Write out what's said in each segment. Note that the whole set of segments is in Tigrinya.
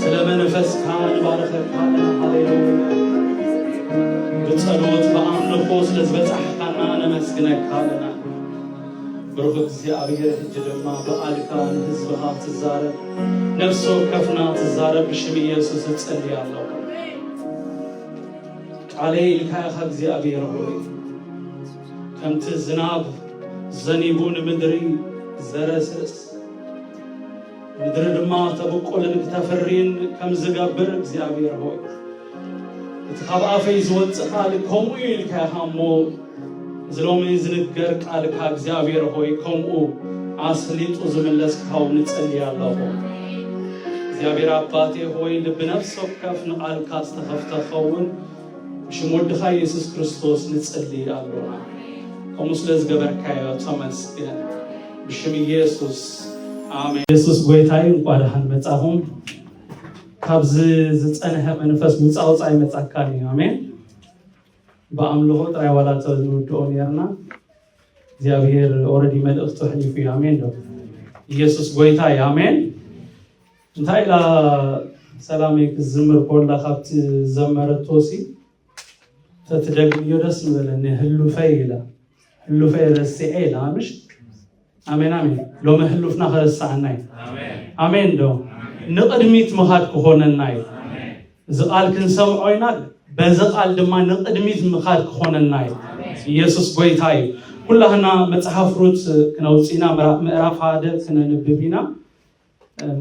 ስለ መንፈስካ ንባርኸካ ኣለና ሃሌሉያ ብጸሎት ብኣምልኾ ስለ ዝበጻሕካና ነመስግነካ ኣለና ብሩኽ እግዚኣብሔር ሕጂ ድማ ብኣልካ ንህዝብኻ ትዛረብ ነፍሲ ወከፍና ትዛረብ ብሽም ኢየሱስ እጸልይ ኣለኹ ቃለይ ኢልካ ኢኻ እግዚኣብሔር ሆይ ከምቲ ዝናብ ዘኒቡ ንምድሪ ዘረስርስ ምድሪ ድማ ተብቁልን ክተፍሪን ከም ዝገብር እግዚኣብሔር ሆይ እቲ ካብ ኣፈይ ዝወፅእ ቃል ከምኡ እዩ ኢልካ ኢኻ እሞ እዚ ሎሚ ዝንገር ቃልካ እግዚኣብሔር ሆይ ከምኡ ኣስሊጡ ዝምለስ ክኻው ንጸልይ ኣለኹ እግዚኣብሔር ኣባቴ ሆይ ልቢ ነፍሲ ወከፍ ንቓልካ ዝተኸፍተ ኸውን ብሽም ወድኻ ኢየሱስ ክርስቶስ ንጽሊ ኣሎና ከምኡ ስለ ዝገበርካዮ ተመስገን ብሽም ኢየሱስ ኣሜን ኢየሱስ ጎይታይ እንኳ ደሓን መጻኹም ካብዚ ዝጸንሐ መንፈስ ውፃ ውፃ ይመጻካን እዩ ኣሜን ብኣምልኾ ጥራይ ዋላ ንውድኦ ነርና እግዚኣብሄር ኦረዲ መልእኽቱ ሕሊፉ እዩ ኣሜን ዶ ኢየሱስ ጎይታ እዩ ኣሜን እንታይ ኢላ ሰላመይ ክትዝምር ኮላ ካብቲ ዝዘመረቶሲ ተትደግምዮ ደስ ምበለኒ ህሉፈይ ኢላ ህሉፈይ ረሲዐ ኢላ ምሽ ኣሜን ኣሜን ሎሚ ህሉፍና ከረሳዓና እዩ ኣሜን ዶ ንቅድሚት ምኻድ ክኾነና እዩ እዚ ቃል ክንሰምዖ ኢና በዚ ቃል ድማ ንቅድሚት ምኻድ ክኾነና እዩ ኢየሱስ ጎይታ እዩ ኩላህና መፅሓፍ ሩት ክነውፅኢና ምዕራፍ ሓደ ክነንብብ ኢና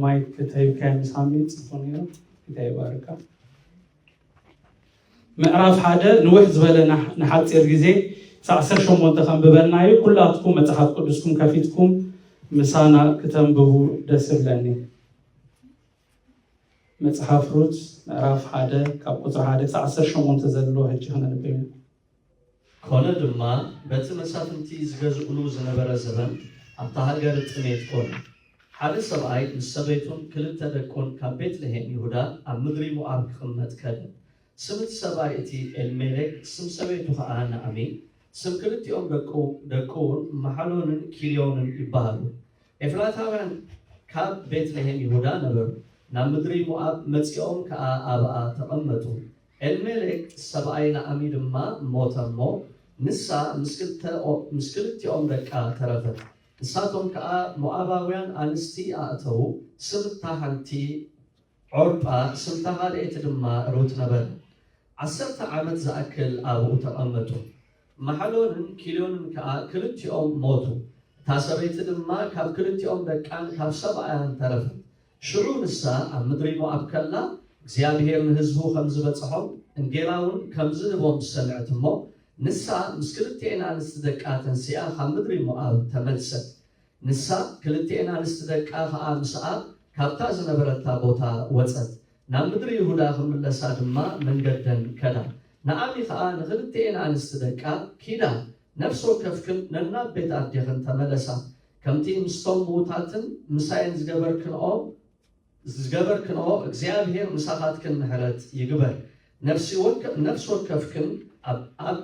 ማይክ ተይብካዮ ምሳኒ ጽፉ ነይሩ ጌታ ይባርካ ምዕራፍ ሓደ ንውሕ ዝበለ ንሓፂር ግዜ ሳዕ ዓሰርተ ሸሞንተ ከንብበልና እዩ ኩላትኩም መፅሓፍ ቅዱስኩም ከፊትኩም ምሳና ክተንብቡ ደስ ብለኒ መጽሓፍ ሩት ምዕራፍ ሓደ ካብ ቁፅሪ ሓደ ክሳዕ ዓሰርተ ሸሞንተ ዘሎ ህጂ ክነንብብ ኮነ ድማ በቲ መሳፍንቲ ዝገዝእሉ ዝነበረ ዘበን ኣብታ ሃገር ጥሜት ኮነ። ሓደ ሰብኣይ ምስ ሰበይቱን ክልተ ደቁን ካብ ቤት ልሄም ይሁዳ ኣብ ምድሪ ሞኣብ ክቕመጥ ከደ። ስም እቲ ሰብኣይ እቲ ኤልሜሌክ፣ ስም ሰበይቱ ኸኣ ናእሚ፣ ስም ክልቲኦም ደቁ ደቁውን ማሓሎንን ኪልዮንን ይበሃሉ። ኤፍራታውያን ካብ ቤት ልሄም ይሁዳ ነበሩ፣ ናብ ምድሪ ሞኣብ መጺኦም ከኣ ኣብኣ ተቐመጡ። ኤልሜሌክ ሰብኣይ ናኣሚ ድማ ሞተ እሞ፣ ንሳ ምስ ክልተ ምስ ክልቲኦም ደቃ ተረፈት፣ ንሳቶም ከኣ ሞኣባውያን ኣንስቲ ኣእተዉ፣ ስም እታ ሓንቲ ዖርጳ፣ ስም እታ ኻልኤቲ ድማ ሩት ነበረ። ዓሰርተ ዓመት ዝኣክል ኣብኡ ተቐመጡ። ማሕሎንን ኪልዮንን ከኣ ክልቲኦም ሞቱ፣ እታ ሰበይቲ ድማ ካብ ክልቲኦም ደቃን ካብ ሰብኣያን ተረፈት፣ ሽዑ ንሳ ኣብ ምድሪ ሞኣብ ከላ፣ እግዚኣብሄር ንህዝቡ ኸም ዚበጽሖም፣ እንጌራውን ከም ዚህቦም ሰምዐት እሞ፣ ንሳ ምስ ክልቴኤን ኣንስቲ ደቃ ተንሲኣ ኻብ ምድሪ ሞኣብ ተመልሰት። ንሳ፣ ክልቴኤን ኣንስቲ ደቃ ኸኣ ምስኣ ካብታ ዝነበረታ ቦታ ወጸት፣ ናብ ምድሪ ይሁዳ ኺምለሳ ድማ መንገደን ከዳ። ናኣሚ ኸኣ ንኽልቴኤን ኣንስቲ ደቃ፣ ኪዳ፣ ነፍሲ ወከፍክን ነናብ ቤት ኣዴኽን ተመለሳ፣ ከምቲ ምስቶም ምዉታትን ምሳይን ዝገበርክንኦ ዝገበርክንኦ እግዚኣብሄር ምሳኻትክን ምሕረት ይግበር። ነፍሲ ወከ ነፍሲ ወከፍክን ኣብ ኣብ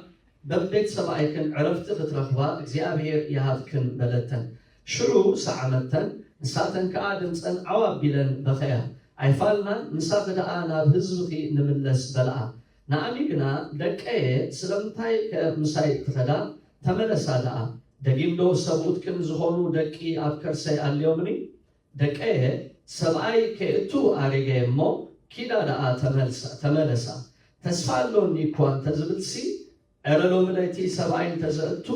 በቤት ሰብኣይክን ዕረፍቲ ክትረኽባ እግዚኣብሄር ይሃብክን በለተን። ሽዑ ሰዓ መተን ንሳተን ከኣ ድምጸን ዓው ኣቢለን በኸያ። ኣይፋልናን ምሳኺ ደኣ ናብ ህዝብኺ ንምለስ በለኣ። ናኣሚ ግና ደቀየ ስለምንታይ ከ ምሳይ ትኸዳ ተመለሳ ደኣ ደጊም ዶ ሰብኡት ቅን ዝኾኑ ደቂ ኣብ ከርሰይ ኣልዮምኒ ደቀየ ሰብኣይ ከይእቱ ኣሪገ እሞ ኪዳ ደኣ ተመልሳ ተመለሳ ተስፋ ኣሎኒ እኳ እንተዝብልሲ እረ ሎምለይቲ ሰብኣይ እንተዘእቱ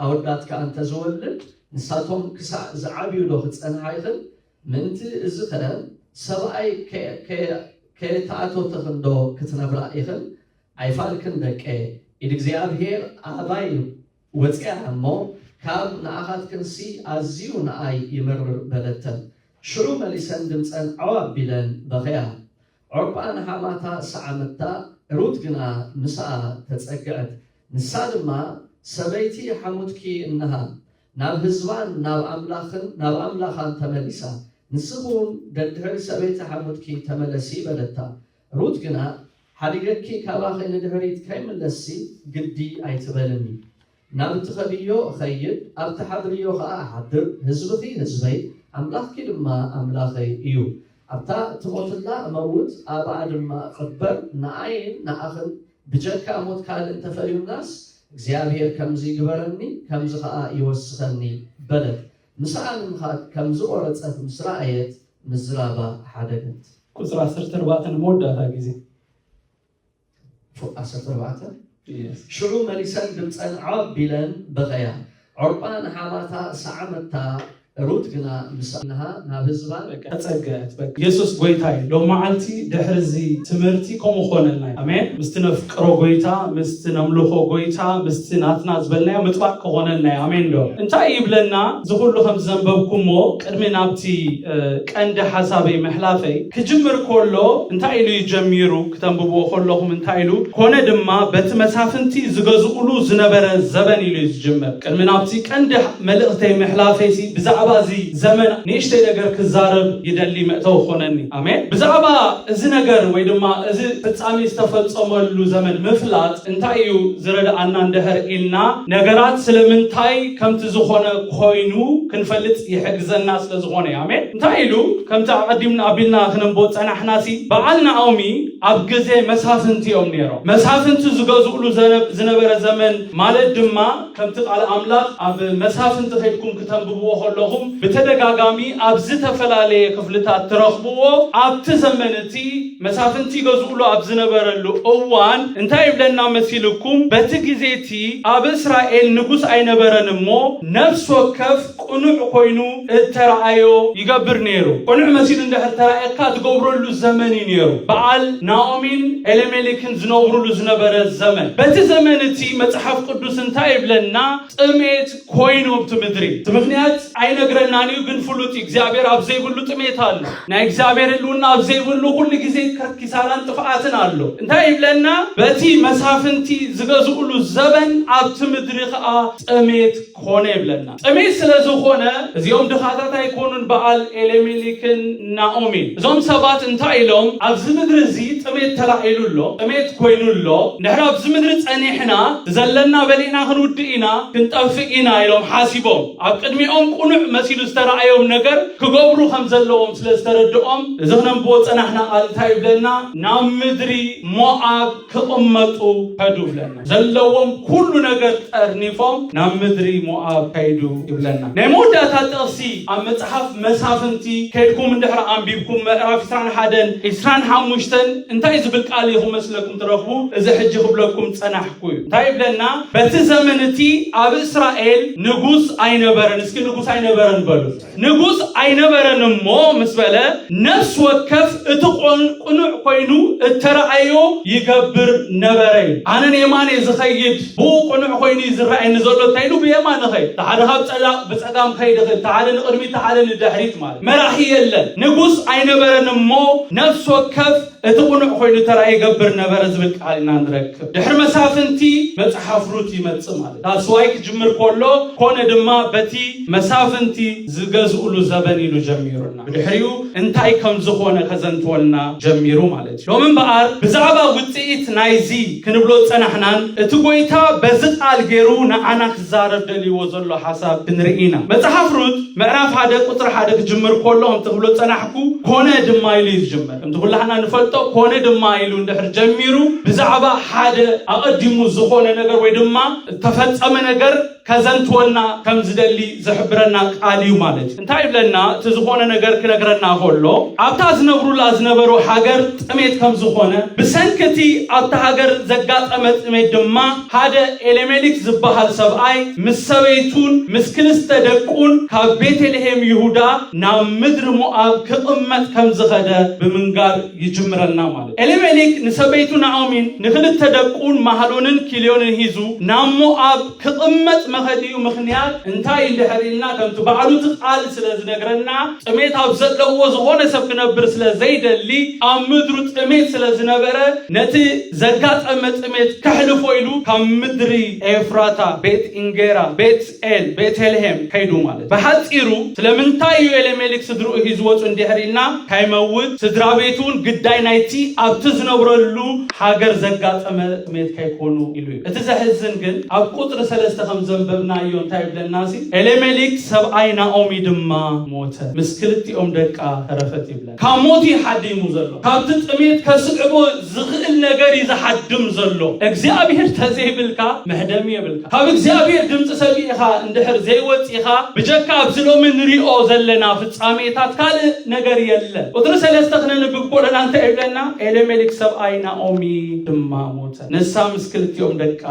ኣወዳት ከኣ እንተዝወልድ ንሳቶም ክሳዕ ዝዓብዩዶ ክጸንሓ ይኽል ምእንቲ እዚኸ ሰብኣይ ከየተኣቶተኽንዶ ክትነብራ ኢኽን ኣይፋልክን ደቄ ኢድ እግዚኣብሔር ኣባይ ወጽኣ እሞ ካብ ንኣኻትክንሲ ኣዝዩ ንኣይ ይመርር በለተን ሽዑ መሊሰን ድምጸን ዐው ኣቢለን በኸያ ዖርጳ ንሓማታ ሰዓመታ፣ ሩት ግና ምስኣ ተጸግዐት፣ ንሳ ድማ፣ ሰበይቲ ሓሙትኪ እንሃ፣ ናብ ህዝባን ናብ ኣምላኽን ናብ ኣምላኻን ተመሊሳ፣ ንስኺውን ደድሕሪ ሰበይቲ ሓሙትኪ ተመለሲ፣ በለታ። ሩት ግና፣ ሓዲገኪ ካባኺ ንድሕሪት ከይምለስሲ ግዲ ኣይትበልኒ፣ ናብ እትኸድዮ እኸይድ፣ ኣብ እትሓድርዮ ኸኣ እሓድር፣ ህዝብኺ ህዝበይ፣ ኣምላኽኪ ድማ ኣምላኸይ እዩ። ኣብታ እትሞትላ እመውት፣ ኣብኣ ድማ እቕበር፣ ንኣይን ንኣኽን ብጀካ ሞት ካልእ እንተ ፈርዩናስ፣ እግዚኣብሄር ከምዚ ይግበረኒ፣ ከምዚ ኸኣ ይወስኸኒ፣ በለት። ምስኣ ንምኻድ ከም ዝቖረጸት ምስ ረኣየት፣ ምዝራባ ሓደገት። ቁጽሪ ዓሰርተ ኣርባዕተ ንመወዳእታ ግዜ። ፉቅ ዓሰርተ ኣርባዕተ ሽዑ መሊሰን ድምፀን ዓብ ኢለን በኸያ፣ ዖርጳ ንሓማታ ሰዓመታ፣ ሩት ግና ምስ እነሃ ናብ ህዝባ ተፀገት። በቃ የሱስ ጎይታ እዩ። ሎም መዓልቲ ድሕሪ እዚ ትምህርቲ ከምኡ ኮነልና እዩ። ኣሜን። ምስቲ ነፍቅሮ ጎይታ፣ ምስቲ ነምልኾ ጎይታ፣ ምስቲ ናትና ዝበልናዮ ምጥባቅ ክኾነልና እዩ። ኣሜን ዶ? እንታይ ይብለና እዚ ኩሉ ከምዘንበብኩሞ ቅድሚ ናብቲ ቀንዲ ሓሳበይ ምሕላፈይ፣ ክጅምር ከሎ እንታይ ኢሉ እዩ ጀሚሩ፣ ክተንብብዎ ከለኹም እንታይ ኢሉ፣ ኮነ ድማ በቲ መሳፍንቲ ዝገዝኡሉ ዝነበረ ዘበን ኢሉ እዩ ዝጅምር። ቅድሚ ናብቲ ቀንዲ መልእኽተይ ምሕላፈይሲ ብዛዕባ እዚ ዘመን ንእሽተይ ነገር ክዛረብ ይደሊ መእተዊ ክኾነኒ። ኣሜን። ብዛዕባ እዚ ነገር ወይ ድማ እዚ ፍጻሜ ዝተፈጸመሉ ዘመን ምፍላጥ እንታይ እዩ ዝረድኣና እንድሕር ኢልና ነገራት ስለምንታይ ከምቲ ዝኾነ ኾይኑ ክንፈልጥ ይሕግዘና ስለ ዝኾነ ኣሜን እንታይ ኢሉ ከምቲ ኣቐዲምና ኣቢልና ክነንቦ ዝጸናሕናሲ በዓል ናኦሚ ኣብ ግዜ መሳፍንቲ እዮም ነይሮም መሳፍንቲ ዝገዝእሉ ዝነበረ ዘመን ማለት ድማ ከምቲ ቃል ኣምላኽ ኣብ መሳፍንቲ ከድኩም ክተንብብዎ ከለኹም ብተደጋጋሚ ኣብ ዝተፈላለየ ክፍልታት ትረኽብዎ ኣብቲ ዘመን እቲ መሳፍንቲ ይገዝኡሉ ኣብ ዝነበረሉ እዋን እንታይ ይብለና መሲልኩም? በቲ ግዜ እቲ ኣብ እስራኤል ንጉስ ኣይነበረን እሞ ነፍሲ ወከፍ ቅኑዕ ኮይኑ እተረኣዮ ይገብር ነይሩ። ቅኑዕ መሲሉ እንድሕር ተራእየካ ትገብረሉ ዘመን እዩ ነይሩ። በዓል፣ ናኦሚን ኤሌሜሌክን ዝነብሩሉ ዝነበረ ዘመን። በቲ ዘመን እቲ መጽሓፍ ቅዱስ እንታይ ይብለና? ጥሜት፣ ኮይኑ ኣብቲ ምድሪ እቲ ምኽንያት ኣይነግረናን እዩ ግን ፍሉጥ እዩ እግዚኣብሔር ኣብ ዘይብሉ ጥሜት ኣሎ ናይ እግዚኣብሔር ህልውና ኣብ ዘይብሉ ኩሉ ግዜ ኪሳራን ጥፍኣትን ኣሎ እንታይ ይብለና በቲ መሳፍንቲ ዝገዝእሉ ዘበን ኣብቲ ምድሪ ከዓ ጥሜት ኮነ ይብለና ጥሜት ስለ ዝኾነ እዚኦም ድኻታት ኣይኮኑን በዓል ኤሌሜሊክን ናኦሚ እዞም ሰባት እንታይ ኢሎም ኣብዚ ምድሪ እዚ ጥሜት ተላዒሉ ኣሎ ጥሜት ኮይኑ ኣሎ እንድሕር ኣብዚ ምድሪ ጸኒሕና ዘለና በሊዕና ክንውድእ ኢና ክንጠፍእ ኢና ኢሎም ሓሲቦም ኣብ ቅድሚኦም ቁኑዕ መሲሉ ዝተራእዮም ነገር ክገብሩ ከም ዘለዎም ስለ ዝተረድኦም እዚ ክነንብቦ ዝጸናሕና ቃል እንታይ ይብለና ናብ ምድሪ ሞኣብ ክቕመጡ ከዱ ይብለና። ዘለዎም ኩሉ ነገር ጠርኒፎም ናብ ምድሪ ሞኣብ ከይዱ ይብለና። ናይ መወዳእታ ጥቕሲ ኣብ መጽሓፍ መሳፍንቲ ከድኩም እንድሕሪ ኣንቢብኩም ምዕራፍ ዕስራን ሓደን ዕስራን ሓሙሽተን እንታይ ዝብል ቃል እዩ ክመስለኩም ትረኽቡ? እዚ ሕጂ ክብለኩም ጸናሕኩ እዩ። እንታይ ይብለና? በቲ ዘመን እቲ ኣብ እስራኤል ንጉስ ኣይነበረን። እስኪ ንጉስ ኣይነበረን በሉ። ንጉስ ኣይነበረን እሞ ምስ በለ ነፍሲ ወከፍ እቲ ቆን ቅኑዕ ኮይኑ እተረኣዮ ይገብር ነበረ ኢሉ። ኣነ ንየማን እየ ዝኸይድ ብኡ ቅኑዕ ኮይኑ እዩ ዝረኣየኒ ዘሎ እንታይ ኢሉ ብየማን እኸይድ እቲ ሓደ ካብ ጸላእ ብጸጋም ክኸይድ ይኽእል እቲ ሓደ ንቕድሚት እቲ ሓደ ንድሕሪት ማለት መራሒ የለን ንጉስ ኣይነበረን እሞ ነፍሲ ወከፍ እቲ ቅኑዕ ኮይኑ እተረኣዮ ይገብር ነበረ ዝብል ቃል ኢና ንረክብ ድሕሪ መሳፍንቲ መጽሓፍ ሩት ይመጽእ ማለት እዩ። ዳስዋይ ክጅምር ከሎ ኮነ ድማ በቲ መሳፍንቲ ዝገዝእሉ ዘበን ኢሉ ጀሚሩና ብድሕሪኡ እንታይ ከም ዝኾነ ከዘንትወልና ጀሚሩ ማለት እዩ። ሎሚ እምበኣር ብዛዕባ ውፅኢት ናይዚ ክንብሎ ዝፀናሕናን እቲ ጎይታ በዚ ቃል ገይሩ ንዓና ክዛረብ ደልይዎ ዘሎ ሓሳብ ክንርኢ ኢና። መፅሓፍ ሩት ምዕራፍ ሓደ ቁፅሪ ሓደ ክጅምር ከሎ ከምቲ ክብሎ ዝፀናሕኩ ኮነ ድማ ኢሉ እዩ ዝጅምር። ከምቲ ኩላህና ንፈልጦ ኮነ ድማ ኢሉ እንድሕር ጀሚሩ ብዛዕባ ሓደ ኣቐዲሙ ዝኾነ ነገር ወይ ድማ እተፈጸመ ነገር ከዘንትወና ከም ዝደሊ ዝሕብረና ቃል እዩ ማለት እዩ። እንታይ ይብለና? እቲ ዝኾነ ነገር ክነግረና ከሎ ኣብታ ዝነብሩላ ዝነበሩ ሃገር ጥሜት ከም ዝኾነ ብሰንኪ እቲ ኣብታ ሃገር ዘጋጠመ ጥሜት ድማ ሓደ ኤሌሜሊክ ዝበሃል ሰብኣይ ምስ ሰበይቱን ምስ ክልስተ ደቁን ካብ ቤተልሄም ይሁዳ ናብ ምድሪ ሞኣብ ክቕመጥ ከም ዝኸደ ብምንጋር ይጅምረልና ማለት እዩ። ኤሊሜሌክ ንሰበይቱ ናኦሚን ንክልተ ደቁን ማህሎንን ኪልዮንን ሂዙ ናብ ሞኣብ ክቕመጥ መኸዲኡ ምኽንያት እንታይ እዩ እንድሕር ኢልና ከምቲ ባዕሉ እቲ ቃል ስለ ዝነግረና ጥሜት ኣብ ዘለዎ ዝኾነ ሰብ ክነብር ስለ ዘይደሊ ኣብ ምድሩ ጥሜት ስለ ዝነበረ ነቲ ዘጋጠመ ጥሜት ከሕልፎ ኢሉ ካብ ምድሪ ኤፍራታ፣ ቤት ኢንጌራ፣ ቤት ጼን፣ ቤተልሔም፣ ከይዱ ማለት ብሓጺሩ ስለምንታይ እዩ ኤሌሜሊክ ስድርኡ ሒዙ ወጹ እንዲሕር ኢልና ካይመውት ስድራቤቱ ውን ግዳይ ናይቲ ኣብቲ ዝነብረሉ ሃገር ዘጋጠመ ጥሜት ካይኮኑ ኢሉ እዩ እቲ ዘሕዝን ግን ኣብ ቁጽሪ ሰለስተ ከም ዘንበብናዮ እንታይ ይብለና ሲ ኤሌሜሊክ ሰብኣይ ናኦሚ ድማ ሞተ ምስ ክልቲኦም ደቃ ተረፈት ይብለ ካብ ሞት እዩ ሓዲሙ ዘሎ። ካብቲ ጥሜት ከስዕቦ ዝኽእል ነገር እዩ ዝሓድም ዘሎ። እግዚኣብሔር ተዘይብልካ መሕደሚ የብልካ። ካብ እግዚኣብሔር ድምፂ ሰሚዕኻ እንድሕር ዘይወፂእኻ ብጀካ ኣብዚ ሎሚ ንሪኦ ዘለና ፍፃሜታት ካልእ ነገር የለን። ቁፅሪ ሰለስተ ክነንብብ ኮለና እንታይ ይብለና? ኤሌሜሌክ ሰብኣይ ናኦሚ ድማ ሞተ፣ ንሳ ምስ ክልቲኦም ደቃ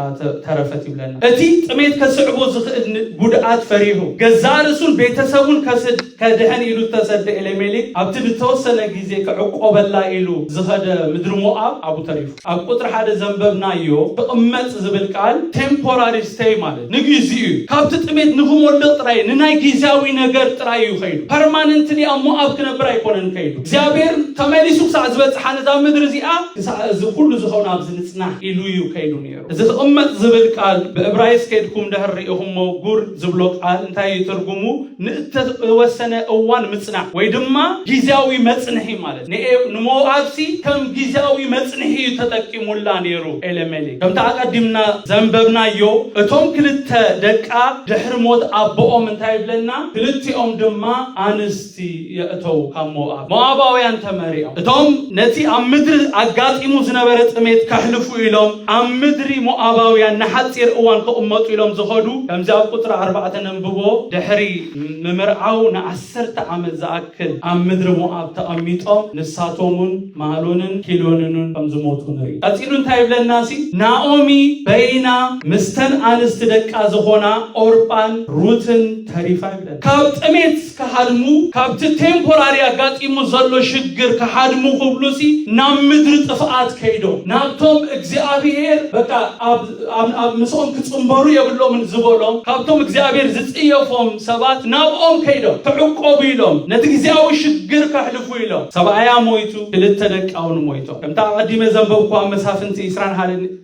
ተረፈት ይብለና። እቲ ጥሜት ከስዕቦ ዝኽእል ጉድኣት ፈሪሁ ገዛእ ርእሱን ቤተሰቡን ከስድ ከድሕን ኢሉ እተሰደ ኤሌሜሌክ፣ ኣብቲ ንተወሰነ ግዜ ክዕቈበላ ኢሉ ዝኸደ ምድሪ ሞኣብ ኣብኡ ተሪፉ። ኣብ ቍጽሪ ሓደ ዘንበብናዮ ክቕመጥ ዝብል ቃል፣ ቴምፖራሪ ስተይ ማለት ንግዜኡ እዩ። ካብቲ ጥሜት ንኽሞልቕ ጥራይ፣ ንናይ ግዜያዊ ነገር ጥራይ እዩ ከይዱ። ፐርማነንትሊ ኣብ ሞኣብ ክነብር ኣይኰነን ከይዱ። እግዚኣብሄር ተመሊሱ ክሳዕ ዝበጽሓ ነዛ ምድሪ እዚኣ፣ ክሳዕ እዚ ዅሉ ዝኸውን ኣብዚ ንጽናሕ ኢሉ እዩ ከይዱ ነይሩ። እዚ ክቕመጥ ዝብል ቃል ብእብራይስ ከድኩም ደህር ርኢኹሞ ጉር ዝብሎ ቃል እንታይ እዩ ትርጉሙ ንእተወሰነ እዋን ምጽናዕ ወይ ድማ ጊዜያዊ መጽንሒ ማለት ንሞኣብሲ ከም ጊዜያዊ መጽንሒ እዩ ተጠቂሙላ ነይሩ ኤለሜሌክ ከምቲ ኣቀዲምና ዘንበብናዮ እቶም ክልተ ደቃ ድሕሪ ሞት ኣቦኦም እንታይ ይብለና ክልቲኦም ድማ ኣንስ ሲ የእተው ካብ ሞኣብ ሞኣባውያን ተመሪዖም እቶም ነቲ ኣብ ምድሪ ኣጋጢሙ ዝነበረ ጥሜት ከሕልፉ ኢሎም ኣብ ምድሪ ሞኣባውያን ንሓፂር እዋን ክቕመጡ ኢሎም ዝኸዱ ከምዚ ኣብ ቁፅሪ ኣርባዕተ ነንብቦ ድሕሪ ምምርዓው ንዓሰርተ ዓመት ዝኣክል ኣብ ምድሪ ሞኣብ ተቐሚጦም ንሳቶምን ማሎንን ኪሎንንን ከም ዝሞቱ ንርኢ ቀፂሉ እንታይ ይብለና ሲ ናኦሚ በይና ምስተን ኣንስቲ ደቃ ዝኾና ኦርጳን ሩትን ተሪፋ ይብለና። ካብ ጥሜት ክሃድሙ ካብቲ ቴምፖራሪ ኣጋጢሙ ዘሎ ሽግር ክሃድሙ ክብሉሲ ናብ ምድሪ ጥፍኣት ከይዶም ናብቶም እግዚኣብሄር በቃ ኣብ ምስኦም ክጽምበሩ የብሎምን ዝበሎም ካብቶም እግዚኣብሄር ዝጽየፎም ሰባት ናብኦም ከይዶም ክዕቆቡ ኢሎም ነቲ ግዜያዊ ሽግር ከሕልፉ ኢሎም ሰብኣያ ሞይቱ ክልተ ደቃውን ሞይቶም ከምታ ኣቐዲመ ዘንበብኩ ኣብ መሳፍንቲ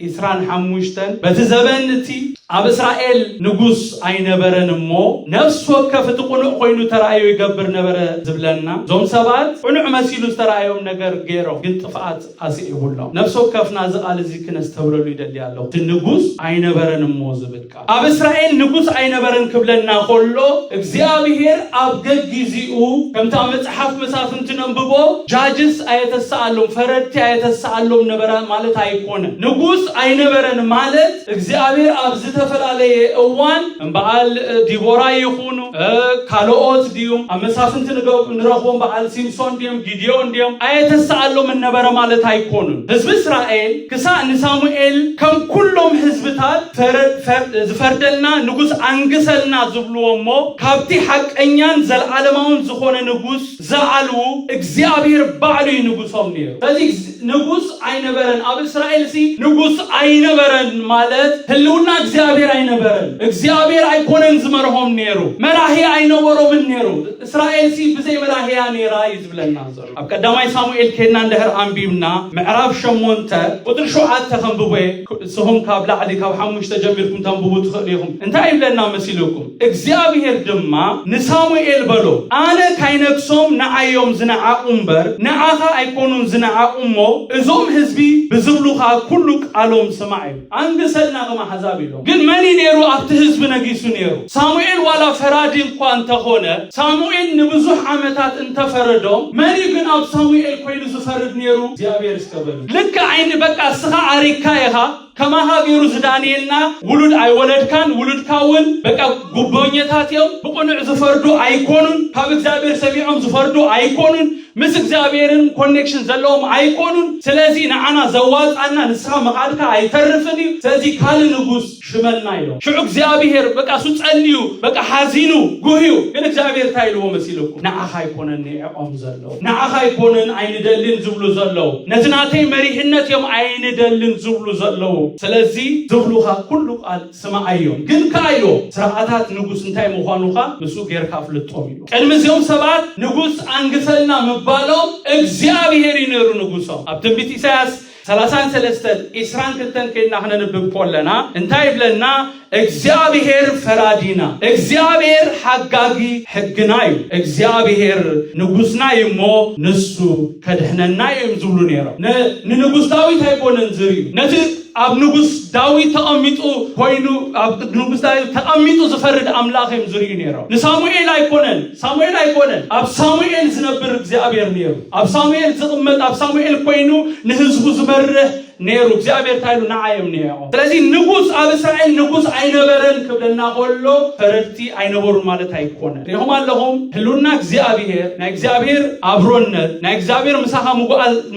ኢስራን ሓሙሽተን በቲ ዘበን እቲ ኣብ እስራኤል ንጉስ ኣይነበረን እሞ ነፍሲ ወከፍ እቲ ቁኑዕ ኮይኑ ተራእዮ ይገብር ነበረ ዝብለና እዞም ሰባት ቁኑዕ መሲሉ ዝተራእዮም ነገር ገይሮም ግን ጥፍኣት ኣስዒቡሎም ነፍሲ ወከፍና እዚ ቃል እዚ ክነስተብለሉ ይደሊ ኣለኹ እቲ ንጉስ ኣይነበረን እሞ ዝብል ቃል ኣብ እስራኤል ንጉስ ኣይነበረን ክብለና ከሎ እግዚኣብሄር ኣብ ገጊዚኡ ከምቲ ኣብ መጽሓፍ መሳፍንቲ ነንብቦ ጃጅስ ኣየተሰኣሎም ፈረድቲ ኣየተሰኣሎም ነበረ ማለት ኣይኮነ ንጉስ ኣይነበረን ማለት እግዚኣብሔር ኣብ ዝተፈላለየ እዋን እምበዓል ዲቦራ ይኹኑ ካልኦት ድዩም ኣብ መሳፍንቲ ንረኽቦም በዓል ሲምሶን ድዮም ጊድዮን ድዮም ኣየተሰኣሎም እነበረ ማለት ኣይኮኑን ህዝቢ እስራኤል ክሳእ ንሳሙኤል ከም ኩሎም ህዝብታት ዝፈርደልና ንጉስ ኣንግሰልና ዝብልዎ እሞ ካብቲ ሓቀኛን ዘለዓለማውን ዝኾነ ንጉስ ዝኣልዉ፣ እግዚኣብሄር ባዕሉ እዩ ንጉሶም ነይሩ። ስለዚ ንጉስ ኣይነበረን። ኣብ እስራኤልሲ ንጉስ ኣይነበረን ማለት ህልውና እግዚኣብሄር ኣይነበረን። እግዚኣብሄር ኣይኮነን ዝመርሆም ነይሩ። መራሂ ኣይነበሮምን ነይሩ። እስራኤልሲ ብዘይ መራሂ እያ ነይራ እዩ ዝብለና ዘሎ። ኣብ ቀዳማይ ሳሙኤል ኬድና እንድሕር ኣንቢብና ምዕራፍ ሸሞንተ ቁፅሪ ሸውዓተ ከንብቦ እየ። ንስኹም ካብ ላዕሊ ካብ ሓሙሽተ ጀሚርኩም ተንብቡ ትኽእሉ ኢኹም። እንታይ ይብለና መሲልኩም? እግዚኣብሄር ድማ ንሳሙኤል በሎ፣ ኣነ ካይነግሶም ንዓዮም ዝነዓቑ እምበር፣ ንዓኻ ኣይኰኑን ዝነዓቑ እሞ፣ እዞም ህዝቢ ብዝብሉኻ ኵሉ ቃሎም ስማዕ ኢሉ። ኣንግሰልና ከም ኣሕዛብ ኢሎም። ግን መን እዩ ነይሩ ኣብቲ ህዝቢ ነጊሱ ነይሩ? ሳሙኤል ዋላ ፈራዲ እኳ እንተ ዀነ፣ ሳሙኤል ንብዙሕ ዓመታት እንተ ፈረዶም፣ መን እዩ ግን ኣብ ሳሙኤል ኰይኑ ዝፈርድ ነይሩ? እግዚኣብሄር እስከ በሉ። ልክዕ ዓይኒ በቃ እስኻ ዓሪግካ ኢኻ። ከማኻ ገይሩ ዝዳንየልና ውሉድ ኣይወለድካን ውሉድካ እውን በቃ ጉቦኘታት እዮም ብቕኑዕ ዝፈርዱ ኣይኮኑን ካብ እግዚኣብሔር ሰሚዖም ዝፈርዱ ኣይኮኑን ምስ እግዚኣብሔርን ኮኔክሽን ዘለዎም ኣይኮኑን ስለዚ ንዓና ዘዋፃና ንስኻ ምኻድካ ኣይተርፍን እዩ ስለዚ ካልእ ንጉስ ሽመልና ኢሎም ሽዑ እግዚኣብሔር በቃ እሱ ጸልዩ በቃ ሓዚኑ ጉህዩ ግን እግዚኣብሔር እንታይ ኢልዎ መሲልኩም ንዓኻ ኣይኮነን ንዕኦም ዘሎ ንዓኻ ኣይኮነን ኣይንደልን ዝብሉ ዘለዉ፣ ነቲ ናተይ መሪሕነት እዮም ኣይንደልን ዝብሉ ዘለዉ። ስለዚ ዝብሉኻ ኩሉ ቃል ስምዓዮም፣ ግን ከኣ ኢሎ ስርዓታት ንጉስ እንታይ ምዃኑ ከኣ ምስኡ ጌርካ ኣፍልጦም ኢሎ። ቅድሚ እዚኦም ሰባት ንጉስ ኣንግሰልና ምባሎም እግዚኣብሄር እዩ ነይሩ ንጉሶም። ኣብ ትንቢት ኢሳይያስ ሰላሳን ሰለስተን ኢስራን ክልተን ከይድና ክነንብብ ኮለና እንታይ ይብለና? እግዚኣብሄር ፈራዲና፣ እግዚኣብሄር ሓጋጊ ሕግና እዩ፣ እግዚኣብሄር ንጉስና እዩ እሞ ንሱ ከድሕነና እዩ እዮም ዝብሉ ነይሮም። ንንጉስ ዳዊት ኣይኮነን ዝርዩ ነቲ ኣብ ንጉስ ዳዊት ተቐሚጡ ኮይኑ ኣብ ንጉስ ዳዊት ተቐሚጡ ዝፈርድ ኣምላኽ እዮም ዝርዩ ነይሮም። ንሳሙኤል ኣይኮነን ሳሙኤል ኣይኮነን ኣብ ሳሙኤል ዝነብር እግዚኣብሔር ነይሩ። ኣብ ሳሙኤል ዝቕመጥ ኣብ ሳሙኤል ኮይኑ ንህዝቡ ዝመርሕ ነይሩ እግዚኣብሔር እንታይ ኢሉ ንዓ የምንየኦ ስለዚ ንጉስ ኣብ እስራኤል ንጉስ ኣይነበረን ክብለና ከሎ ፈረድቲ ኣይነበሩን ማለት ኣይኮነን ሪኹም ኣለኹም ህልውና እግዚኣብሔር ናይ እግዚኣብሔር ኣብሮነት ናይ እግዚኣብሔር ምሳኻ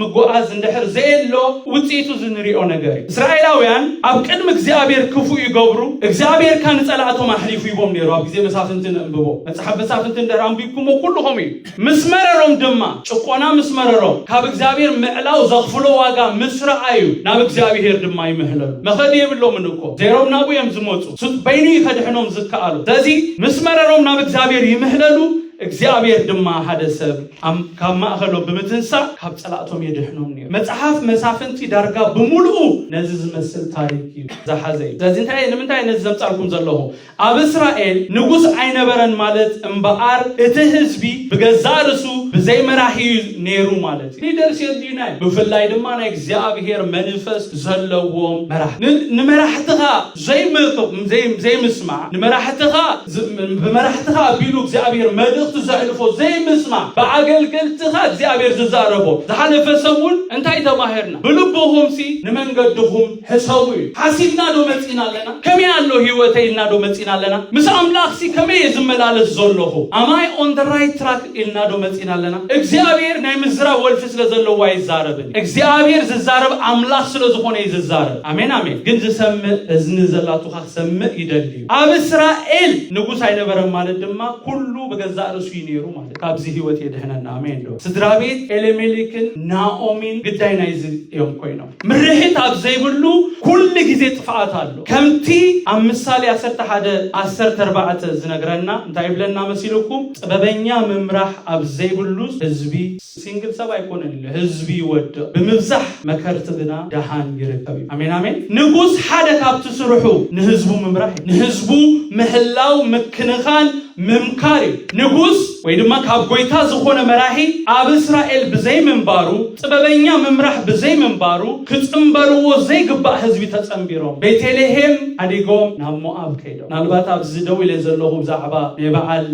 ምጓዓዝ እንድሕር ዘየሎ ውፅኢቱ ዝንሪኦ ነገር እዩ እስራኤላውያን ኣብ ቅድሚ እግዚኣብሔር ክፉ ይገብሩ እግዚኣብሔር ካ ንፀላእቶም ኣሕሊፉ ይቦም ነይሩ ኣብ ግዜ መሳፍንቲ ንእንብቦ መፅሓፍ መሳፍንቲ እንድሕር ኣንቢብኩሞ ኩልኹም እዩ ምስ መረሮም ድማ፣ ጭቆና ምስ መረሮም፣ ካብ እግዚኣብሔር ምዕላው ዘኽፍሎ ዋጋ ምስ ረኣዩ፣ ናብ እግዚኣብሔር ድማ ይምሕለሉ። መኸዲ የብሎምን እኮ፣ ዘይሮም ናብኡ እዮም ዝመጹ፣ ሱጥ በይኑ እዩ ከድሕኖም ዝከኣሎ። ስለዚ ምስ መረሮም ናብ እግዚኣብሔር ይምሕለሉ፣ እግዚኣብሔር ድማ ሓደ ሰብ ኣም ካብ ማእኸሎም ብምትንሳእ ካብ ጸላእቶም የድሕኖም ነይሩ። መጽሓፍ መሳፍንቲ ዳርጋ ብምሉኡ ነዚ ዝመስል ታሪክ እዩ ዝሓዘ እዩ። ስለዚ እንታይ ንምንታይ ነዚ ዘምጻልኩም ዘለኹ? ኣብ እስራኤል ንጉስ ኣይነበረን ማለት እምበኣር እቲ ህዝቢ ብገዛእ ርእሱ ብዘይ መራሒ እዩ ነይሩ ማለት እዩ። ሊደርስ የድልዩ ናይ ብፍላይ ድማ ናይ እግዚኣብሔር መንፈስ ዘለዎም መራሕቲ። ን- ንመራሕትኻ ዘይምክ- ዘይ- ዘይምስማዕ ንመራሕትኻ ዝ- ብመራሕትኻ ኣቢሉ እግዚኣብሔር መልእኽቲ ዘሕልፎ ዘይምስማዕ ብኣገልገልትኻ እግዚኣብሔር ዝዛረቦ ዝሓለፈ ሰሙን እንታይ ተማሂርና ብልብኹምሲ ንመንገድኹም ሕሰቡ እዩ። ሓሲብና ዶ መጺና ኣለና? ከመይ ኣሎ ህይወተይ ኢልና ዶ መጺና ኣለና? ምስ ኣምላኽሲ ከመይ እየ ዝመላለስ ዘሎኹ? Am I on the right track? ኢልና ዶ መጺና ኣለና? እግዚኣብሔር ናይ ምዝራብ ወልፊ ስለ ዘለዎ ኣይዛረብን እዩ። እግዚኣብሔር ዝዛረብ ኣምላኽ ስለ ዝኾነ እዩ ዝዛረብ። ኣሜን ኣሜን። ግን ዝሰምእ እዝኒ ዘላቱኻ ክሰምእ ይደሊ እዩ። ኣብ እስራኤል ንጉስ ኣይነበረን ማለት ድማ ኩሉ ብገዛእ ርእሱ እዩ ነይሩ ማለት እዩ። ካብዚ ህይወት የድሕነና። ኣሜን ዶ? ስድራ ቤት ኤሌሜሌክን ናኦሚን ግዳይ ናይዚ እዮም ኮይኖም። ምርሒት ኣብ ዘይብሉ ኩሉ ግዜ ጥፍኣት ኣሎ ከምቲ ኣብ ምሳሌ ዓሰርተ ሓደ ዓሰርተ ኣርባዕተ ዝነግረና እንታይ ይብለና መሲልኩም ጥበበኛ ምምራሕ ኣብ ዘይብሉ ህዝቢ ሲንግል ሰብ ኣይኮነን ኢሉ ህዝቢ ይወድቕ ብምብዛሕ መከርቲ ግና ደሃን ይርከብ እዩ ኣሜን ኣሜን ንጉስ ሓደ ካብቲ ስርሑ ንህዝቡ ምምራሕ ንህዝቡ ምሕላው ምክንኻን ምምካር እዩ። ንጉስ ወይ ድማ ካብ ጎይታ ዝኾነ መራሒ ኣብ እስራኤል ብዘይምንባሩ፣ ጥበበኛ ምምራሕ ብዘይምንባሩ፣ ክጽንበርዎ ዘይግባእ ህዝቢ ተጸንቢሮም ቤቴልሄም ሓዲጎም ናብ ሞኣብ ከይዶም። ምናልባት ኣብዚ ደው ኢለ ዘለኹ ብዛዕባ ናይ በዓል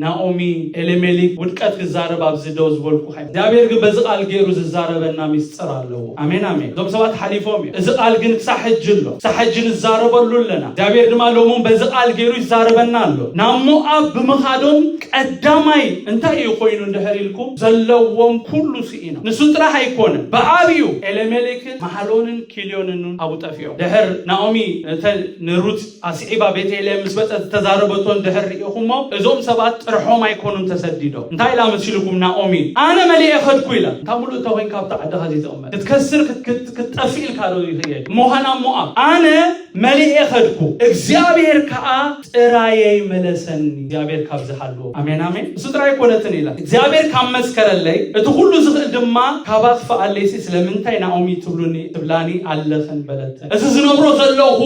ናኦሚ ኤሌሜሊክ ውድቀት ክዛረብ ኣብዚ ደው ዝበልኩ። እግዚኣብሔር ግን በዚ ቃል ገይሩ ዝዛረበና ሚስጥር ኣለዎ ኣሜን ኣሜን እዞም ሰባት ሓሊፎም እዮም እዚ ቃል ግን ክሳብ ሕጂ ኣሎ ክሳብ ሕጂ ንዛረበሉ ኣለና እግዚኣብሔር ድማ ሎሙን በዚ ቃል ገይሩ ይዛረበና ኣሎ ናብ ሞኣብ ብምኻዶም ቀዳማይ እንታይ እዩ ኮይኑ እንድሕር ኢልኩም ዘለዎም ኩሉ ስኢኖም ንሱ ጥራሕ ኣይኮነን ብኣብዩ ኤሌሜሌክን ማሓሎንን ኪልዮንን ኣብኡ ጠፊኦም ድሕር ናኦሚ ንሩት ኣስዒባ ቤተልሔም ምስ መጸት ዝተዛረበቶ እንድሕር ርኢኹሞ፣ እዞም ሰባት ጥርሖም ኣይኮኑን ተሰዲዶም። እንታይ ኢላ መሲሉኩም ናኦሚ ኣነ መሊኤ ከድኩ ኢላ። እንታ ምሉእ እንተኮይንካ ኣብታ ዓድኻ ዘይትቕመጥ ክትከስር ክትጠፍእ ኢልካ ዶ ይኽየድ እሞኻ ናብ ሞኣብ ኣነ መሊኤ ከድኩ እግዚኣብሔር ከኣ ጥራየይ መለሰኒ። እግዚኣብሔር ካብ ዝሃልዎ ኣሜን ኣሜን። እሱ ጥራይ ኣይኮነትን ኢላ እግዚኣብሔር ካብ መስከረለይ እቲ ኩሉ ዝኽእል ድማ ካብ ኣጥፍኣለይሲ ስለምንታይ ናኦሚ ትብሉኒ ትብላኒ ኣለኽን በለት። እዚ ዝነብሮ ዘለኹ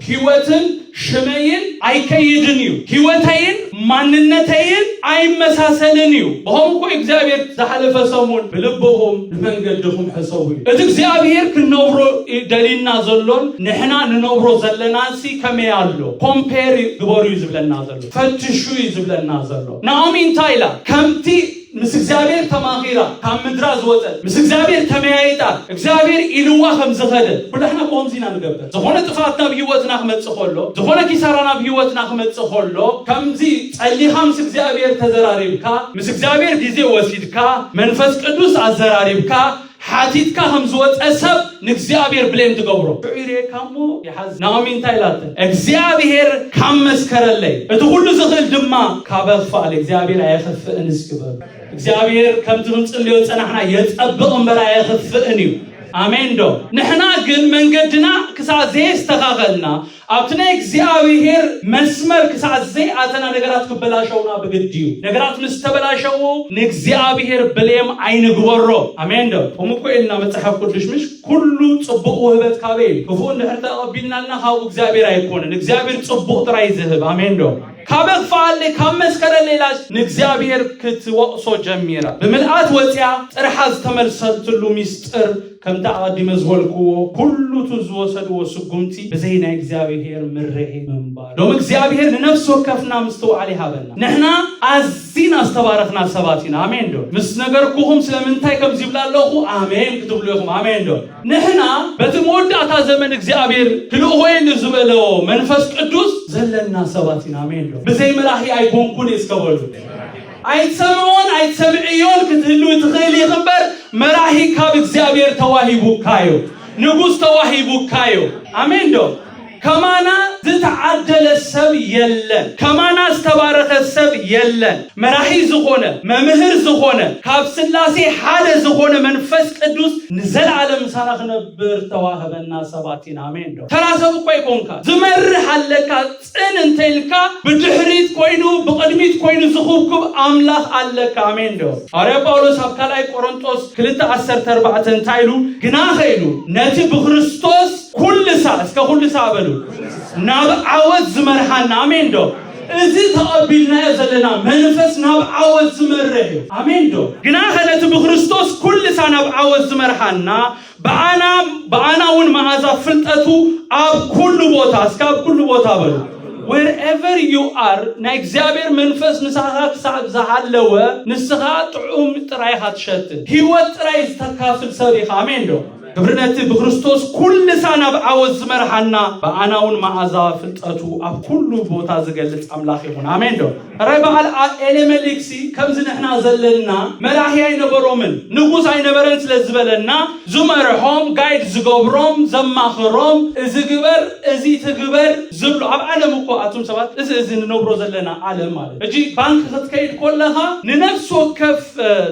ህይወትን ሽመይን ኣይከይድን እዩ፣ ህይወተይን ማንነተይን ኣይመሳሰልን እዩ። ብኸምኡ እኮ እግዚኣብሔር ዝሓለፈ ሰሙን ብልብኹም ንመንገድኹም ሕሰቡ እዩ። እቲ እግዚኣብሔር ክንነብሮ ደሊና ዘሎን ንሕና ንነብሮ ዘለናንሲ ከመይ ኣሎ ኮምፔር ግበሩ እዩ ዝብለና ዘሎ፣ ፈትሹ እዩ ዝብለና ዘሎ። ናኦሚ እንታይ ኢላ ከምቲ ምስ እግዚኣብሔር ተማኺራ ካብ ምድራ ዝወፀት ምስ እግዚኣብሔር ተመያይጣ እግዚኣብሔር ኢልዋ ከም ዝኸደ ኩላሕና ብኸምዚ ኢና ንገብር ዝኾነ ጥፋት ናብ ህይወትና ክመፅእ ከሎ ዝኾነ ኪሳራ ናብ ህይወትና ክመፅእ ከሎ ከምዚ ጸሊኻ ምስ እግዚኣብሔር ተዘራሪብካ ምስ እግዚኣብሔር ግዜ ወሲድካ መንፈስ ቅዱስ ኣዘራሪብካ ሓቲትካ ከም ዝወጸ ሰብ ንእግዚኣብሔር ብሌን ትገብሮ። ሽዑ ይርእየካ እሞ ይሓዝን። ናኦሚ እንታይ ኢላተ? እግዚኣብሔር ካብ መስከረለይ፣ እቲ ኩሉ ዝኽእል ድማ ካበ ክፋል እግዚኣብሔር ኣየኽፍእን እስኪ በሉ። እግዚኣብሔር ከምቲ ክንጽልዮ ዝጸናሕና የጸብቕ እምበር ኣየኽፍእን እዩ። ኣሜን ዶ? ንሕና ግን መንገድና ክሳብ ዘየስተኻኸልና ኣብቲ ናይ እግዚኣብሄር መስመር ክሳዕ ዘይኣተና ነገራት ክበላሸዉና ብግዲ እዩ። ነገራት ምስ ተበላሸዉ ንእግዚኣብሄር ብሌም ኣይንግበሮ። ኣሜን ዶ? ከምኡ እኮ ኢልና መጽሓፍ ቅዱሽ ምሽ ኩሉ ጽቡቕ ውህበት ካበይ እዩ? ክፉእ እንድሕር ተቐቢልናልና ካብኡ እግዚኣብሄር ኣይኮነን። እግዚኣብሄር ጽቡቕ ጥራይ ዝህብ። ኣሜን ዶ? ካብ እኽፍኣለይ ካብ መስከረለይ ኢላስ ንእግዚኣብሄር ክትወቕሶ ጀሚራ። ብምልኣት ወጺኣ ጥርሓ ዝተመልሰትሉ ሚስጥር ከምቲ ኣቐዲመ ዝበልክዎ፣ ኩሉ እቱ ዝወሰድዎ ስጉምቲ ብዘይ ናይ እግዚኣብሄር ምረሄ ምንባሩ። ሎሚ እግዚኣብሄር ንነፍሲ ወከፍና ምስትውዓል ይሃበና። ንሕና ኣዚና ዝተባረኽና ሰባት ኢና። ኣሜን ዶ? ምስ ነገርኩኹም ስለምንታይ ከምዚ ይብላ ኣለኹ ኣሜን ክትብሉ ኢኹም። ኣሜን ዶ? ንሕና በቲ መወዳእታ ዘመን እግዚኣብሄር ክልእኾ ኢዩ ንዝበለዎ መንፈስ ቅዱስ ዘለና ሰባት ኢና። ኣሜን ዶ? ብዘይ መራሒ ኣይኮንኩን ኢየ እስከ በሉ። ኣይትሰምዕዎን ኣይትሰምዕዮን ክትህልዊ ትኽእሊ ኢኺ እምበር መራሒ ካብ እግዚኣብሔር ተዋሂቡካዮ ንጉሥ ተዋሂቡካዮ ኣሜን ዶ ከማና ዝተዓደለ ሰብ የለን ከማና ዝተባረኸ ሰብ የለን መራሒ ዝኾነ መምህር ዝኾነ ካብ ስላሴ ሓደ ዝኾነ መንፈስ ቅዱስ ንዘለዓለም ምሳና ክነብር ተዋህበና ሰባት ኢና ኣሜን ዶ ተራ ሰብ እኮ ኣይኮንካ ዝመርሕ ኣለካ ጽን እንተኢልካ ብድሕሪት ኮይኑ ብቕድሚት ኮይኑ ዝኹብኩብ ኣምላኽ ኣለካ። ኣሜን ዶ? ሃዋርያ ጳውሎስ ኣብ ካልኣይ ቆሮንጦስ ክልተ ዓሰርተ ኣርባዕተ እንታይ ኢሉ? ግናኸ ኢሉ ነቲ ብክርስቶስ ኩሉ ሳዕ እስከ ኩሉ ሳዕ በሉ ናብ ዓወት ዝመርሓና ኣሜን ዶ? እዚ ተቐቢልናዮ ዘለና መንፈስ ናብ ዓወት ዝመርሕ እዩ። ኣሜን ዶ? ግናኸ ነቲ ብክርስቶስ ኩሉ ሳዕ ናብ ዓወት ዝመርሓና ብኣና ብኣና እውን መኣዛ ፍልጠቱ ኣብ ኩሉ ቦታ እስከ ኣብ ኩሉ ቦታ በሉ wherever you are ናይ እግዚኣብሔር መንፈስ ምሳኻ ክሳብ ዝሃለወ ንስኻ ጥዑም ጥራይ ኢኻ ትሸት ህይወት ጥራይ ዝተካፍል ሰብ ኢኻ ኣሜን ዶ ግብሪ ነቲ ብክርስቶስ ኩልሳ ናብ ዓወት ዝመርሓና ብኣናውን መዓዛ ፍልጠቱ ኣብ ኩሉ ቦታ ዝገልጽ ኣምላኽ ይኹን ኣሜን ዶ እረ በዓል ኤሌመሊክሲ ከምዚ ንሕና ዘለና መራሒ ኣይነበሮምን ንጉስ ኣይነበረን ስለ ዝበለና ዝመርሖም ጋይድ ዝገብሮም ዘማኽሮም እዚ ግበር እዚ ትግበር ዝብሎ ኣብ ዓለም እኮ ኣቱም ሰባት እዚ እዚ ንነብሮ ዘለና ዓለም ማለት እጂ ባንክ ክትከይድ ኮለኻ ንነፍሲ ወከፍ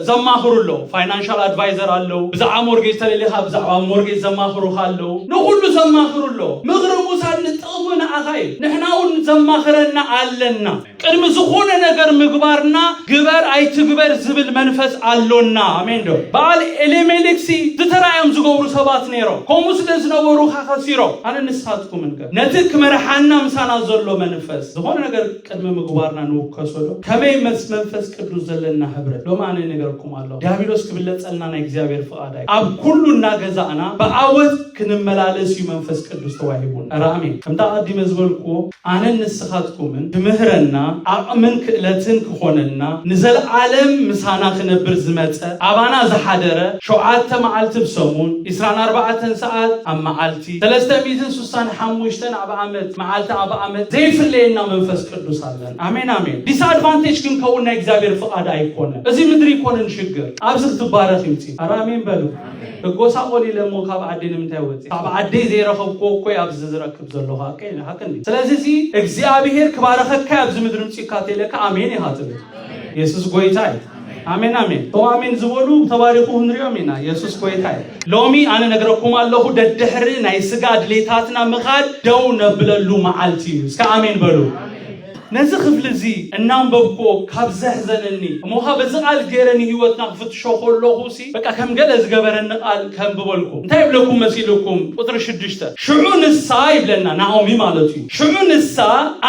ዘማኽሩ ኣለዉ ፋይናንሻል ኣድቫይዘር ኣለዉ ብዛዕባ ሞርጌጅ ተለሊኻ ብዛዕባ ሞርጌጅ ዘማኽሩኻ ኣለዉ ንኹሉ ዘማኽሩ ኣለዉ ምኽሪ ሙሳድ እወ ንኣኻ እዩ ንሕናውን ዘማኽረና ኣለና ቅድሚ ዝኾነ ነገር ምግባርና ግበር ኣይትግበር ዝብል መንፈስ ኣሎና ኣሜን ዶ በዓል ኤሌሜሌክሲ ዝተራእዮም ዝገብሩ ሰባት ነይሮም ከምኡ ስለ ዝነበሩኻ ከሲሮም ኣነ ንስኻትኩምንከ ነቲ ክመርሓና ምሳና ዘሎ መንፈስ ዝኾነ ነገር ቅድሚ ምግባርና ንውከሶ ዶ ከመይ መስ መንፈስ ቅዱስ ዘለና ህብረት ሎም ኣነ ነገርኩም ኣሎ ዲያብሎስ ክብለጸልና ናይ እግዚኣብሔር ፍቓድ ኣይ ኣብ ኩሉ እናገዛእና ብኣወት ክንመላለስ እዩ መንፈስ ቅዱስ ተዋሂቡን ራሜ ከምታ ኣቀዲመ ዝበልክዎ ኣነን ንስኻትኩምን ትምህረና ኣቕምን ክእለትን ክኾነልና ንዘለዓለም ምሳና ክነብር ዝመጸ ኣባና ዝሓደረ ሸውዓተ መዓልቲ ብሰሙን 24 ሰዓት ኣብ መዓልቲ እቲ ሰለስተ ሚእትን ሱሳን ሓሙሽተን ኣብ ኣመት መዓልቲ ኣብ ኣመት ዘይፍለየና መንፈስ ቅዱስ ኣለን ኣሜን ኣሜን ዲስ ኣድቫንቴጅ ክንከውን ናይ እግዚኣብሔር ፍቃድ ኣይኮነን እዚ ምድሪ ይኮንን ሽግር ኣብዚ ክትባረክ ይምፂ ኣረ ኣሜን በሉ እጎሳቆል ኢለ እሞ ካብ ዓደይ ንምንታይ ወፂ ካብ ዓደይ ዘይረከብክዎ እኮ ኣብዚ ዝረክብ ዘለኩ ሓቂ ሓቂ እንዲ ስለዚ እዚ እግዚኣብሔር ክባረከካ ኣብዚ ምድሪ ምፅካ ተለካ ኣሜን ኢካ ትብል የሱስ ጎይታ እዩ ኣሜን ኣሜን እው ኣሜን ዝበሉ ተባሪኹ ንሪኦም ኢና የሱስ ጎይታ እዩ ሎሚ ኣነ ነግረኩም ኣለኹ ደድሕሪ ናይ ስጋ ድሌታትና ምኻድ ደው ነብለሉ መዓልቲ እዩ እስከ ኣሜን በሉ ነዚ ክፍሊ እዚ እናንበብክዎ ካብ ዘሕዘነኒ እሞ ኸ በዚ ቃል ገይረ ንህይወትና ክፍትሾ ከለኹ በቃ ከም ገለ ዝገበረኒ ቃል ከንብበልኩም እንታይ ይብለኩም መሲልኩም ቁፅሪ ሽዱሽተ ሽዑ ንሳ ይብለና ናኦሚ ማለት እዩ ሽዑ ንሳ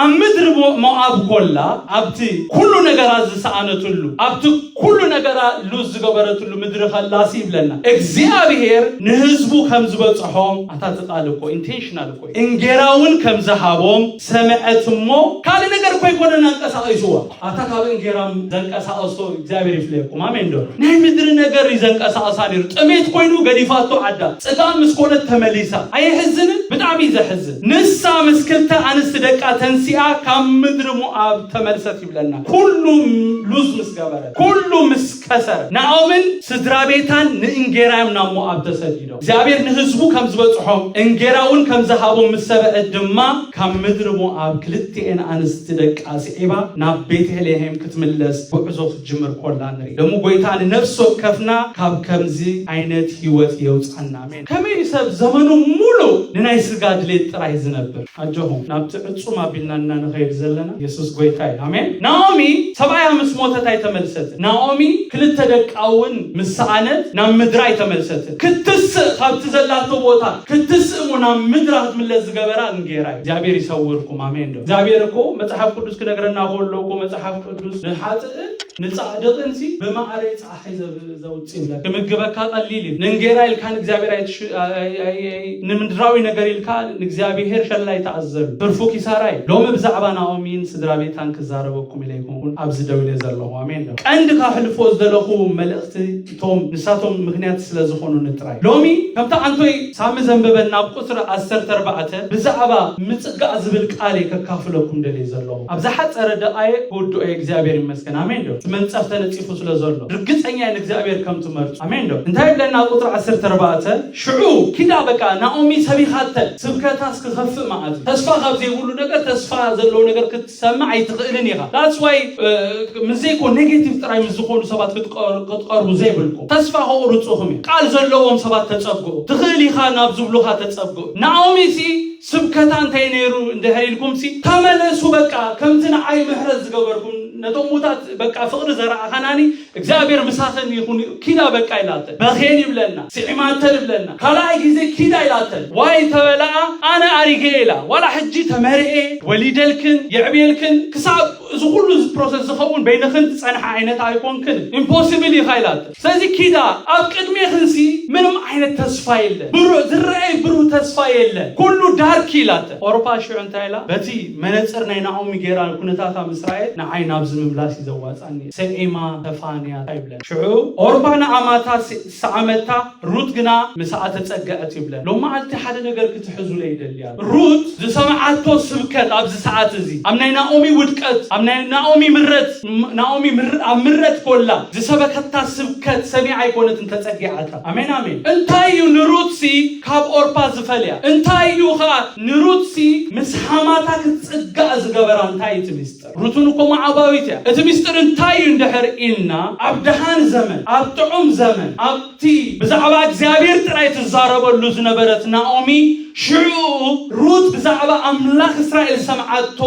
ኣብ ምድሪ ሞኣብ ኮላ ኣብቲ ኩሉ ነገራ ዝሰኣነትሉ ኣብቲ ኩሉ ነገራ ሉዝ ዝገበረትሉ ምድሪ ከላሲ ይብለና እግዚኣብሄር ንህዝቡ ከም ዝበፅሖም ኣታ ዝቃል እኮ ኢንቴንሽናል እኮ እንጌራ እውን ከም ዝሃቦም ሰምዐት እሞ ካልእ ነገር እኮ ይኮነን ኣንቀሳቂስዋ ኣብታ ካብ እንጌራም ዘንቀሳቐሶ እግዚኣብሔር ይፍለየኩም ኣሜን ዶ ናይ ምድሪ ነገር እዩ ዘንቀሳቐሳ ነይሩ ጥሜት ኮይኑ ገዲፋቶ ዓዳ ፅጋብ ምስ ኮነት ተመሊሳ ኣየሕዝንን ብጣዕሚ ዘሕዝን ንሳ ምስ ክልተ ኣንስቲ ደቃ ተንሲኣ ካብ ምድሪ ሞኣብ ተመልሰት ይብለና ኩሉ ሉዝ ምስ ገበረት ኩሉ ምስ ከሰረ ናኦምን ስድራ ቤታን ንእንጌራዮም ናብ ሞኣብ ተሰዲዶ እግዚኣብሔር ንህዝቡ ከም ዝበጽሖም እንጌራውን ከም ዝሃቦም ምስ ሰምዐት ድማ ካብ ምድሪ ሞኣብ ክልቲኤን ኣንስቲ ደቃ ስዒባ ናብ ቤተልሔም ክትምለስ ጉዕዞ ክትጅምር ኮላ ንርኢ። ደሞ ጎይታ ንነፍሲ ወከፍና ካብ ከምዚ ዓይነት ሕይወት የውጻና ኣሜን። ከመይ እዩ ሰብ ዘመኑ ሙሉ ንናይ ስጋ ድሌት ጥራይ ዝነብር? ኣጆኹም ናብቲ ዕጹም ኣቢልና እና ንኸይድ ዘለና የሱስ ጎይታ እዩ ኣሜን ናኦሚ ሰብኣያ ምስ ሞተት ኣይተመልሰትን ናኦሚ ክልተ ደቃ እውን ምስ ሰኣነት ናብ ምድራ ኣይተመልሰትን ክትስእ ካብቲ ዘላቶ ቦታ ክትስእ እሞ ናብ ምድራ ክትምለስ ዝገበራ እንጌራ እዩ እግዚኣብሔር ይሰውርኩም ኣሜን ዶ እግዚኣብሔር እኮ መጽሓፍ ቅዱስ ክነግረና ከሎ እኮ መጽሓፍ ቅዱስ ንሓጥእን ንጻድቅን ሲ ብማዕረ ክምግበካ ቀሊል እዩ ንእንጌራ ኢልካ ንእግዚኣብሔር ንምድራዊ ነገር ኢልካ ንእግዚኣብሔር ሸላይ ተኣዘሉ ትርፉ ኪሳራ እዩ ሎሚ ብዛዕባ ናኦሚን ስድራ ቤታን ክዛረበኩም ኢለ ይኩንኩን ኣብዚ ደው ኢለ ዘለኹ ኣሜን ዶ ቀንዲ ካሕልፎ ዝደለኹ መልእኽቲ እቶም ንሳቶም ምክንያት ስለ ዝኾኑኒ ጥራይ ሎሚ ከምቲ ኣንቶይ ሳሚ ዘንበበና ኣብ ቁፅሪ ዓሰርተ ኣርባዕተ ብዛዕባ ምፅጋዕ ዝብል ቃል እየ ከካፍለኩም ደልየ ዘለኹ ኣብ ዝሓፀረ ደቃየ ክውድኦ እየ እግዚኣብሔር ይመስገን ግን ኣሜን ዶ እቲ መንጸፍ ተነጺፉ ስለ ዘሎ ርግጸኛ እየ ንእግዚኣብሔር ከም ትመርጹ ኣሜን ዶ እንታይ ይብለና ኣብ ቁጥሪ ዓሰርተ ኣርባዕተ ሽዑ ኪዳ በቃ ናኦሚ ሰቢኻተን ስብከታ ስክኸፍእ መዓት እዩ ተስፋ ካብ ዘይብሉ ነገር ተስፋ ዘለዎ ነገር ክትሰምዕ ኣይትኽእልን ኢኻ ዳትስ ዋይ ምስ ዘይኮ ኔጌቲቭ ጥራይ ምስ ዝኾኑ ሰባት ክትቀር- ክትቀርቡ ዘይብልኩም ተስፋ ከቑርጹኹም እዩ ቃል ዘለዎም ሰባት ተጸግዑ ትኽእል ኢኻ ናብ ዝብሉኻ ተጸግዑ ናኦሚ ሲ ስብከታ እንታይ ነይሩ እንድሕር ኢልኩምሲ ተመለሱ በቃ ከምቲ ንዓይ ምሕረት ዝገበርኩም ነቶም ሙታት በቃ ፍቕሪ ዘረኣኻናኒ እግዚኣብሔር ምሳኽን ይኹን ኪዳ በቃ ኢላተን በኼን ይብለና ስዒማተን ይብለና ካልኣይ ግዜ ኪዳ ኢላተን ዋይ ተበላኣ ኣነ ኣሪገ ኢላ ዋላ ሕጂ ተመርዔ ወሊደልክን የዕብየልክን ክሳብ እዚ ኩሉ ፕሮሰስ ዝኸውን በይንኽን ትጸንሓ ዓይነት ኣይኮንክን ኢምፖሲብል ኢኻ ኢላተን ስለዚ ኪዳን ኣብ ቅድሜክንሲ ምንም ዓይነት ተስፋ የለን ብሩህ ዝረኣይ ብሩህ ተስፋ የለን ኩሉ ዳርክ ኢላተ ኦሮፓ ሽዑ እንታይ ኢላ በቲ መነጽር ናይ ናኦሚ ጌራ ንኩነታታ ምስ ረኣየት ንዓይ ናብዚ ምምላስ እዩ ዘዋጻኒ ሰዒማ ተፋንያ ኣይብለን ሽዑ ኦርፓ ንኣማታ ሰዓመታ ሩት ግና ምሳኣ ተጸገዐት ይብለን ሎማዓልቲ ሓደ ነገር ክትሕዙለይ ይደሊ ሩት ዝሰምዓቶ ስብከት ኣብዚ ሰዓት እዚ ኣብ ናይ ናኦሚ ውድቀት ኣብ ናይ ናኦሚ ምረት ናኦሚ ኣብ ምረት ኮላ ዝሰበከታ ስብከት ሰሚዓ ኣይኮነትን ተጸጊዓታ ኣሜን ኣሜን እንታይ እዩ ንሩትሲ ካብ ኦርፓ ዝፈልያ እንታይ እዩ ከኣ ንሩትሲ ምስ ሓማታ ክትጽጋእ ዝገበራ እንታይ እዩ እቲ ሩትን እኮ መዓባዊት እያ። እቲ ምስጢር እንታይ እዩ እንድሕር ኢልና ኣብ ደሃን ዘመን፣ ኣብ ጥዑም ዘመን፣ ኣብቲ ብዛዕባ እግዚኣብሔር ጥራይ ትዛረበሉ ዝነበረት ናኦሚ፣ ሽዕኡ ሩት ብዛዕባ ኣምላኽ እስራኤል ዝሰምዓቶ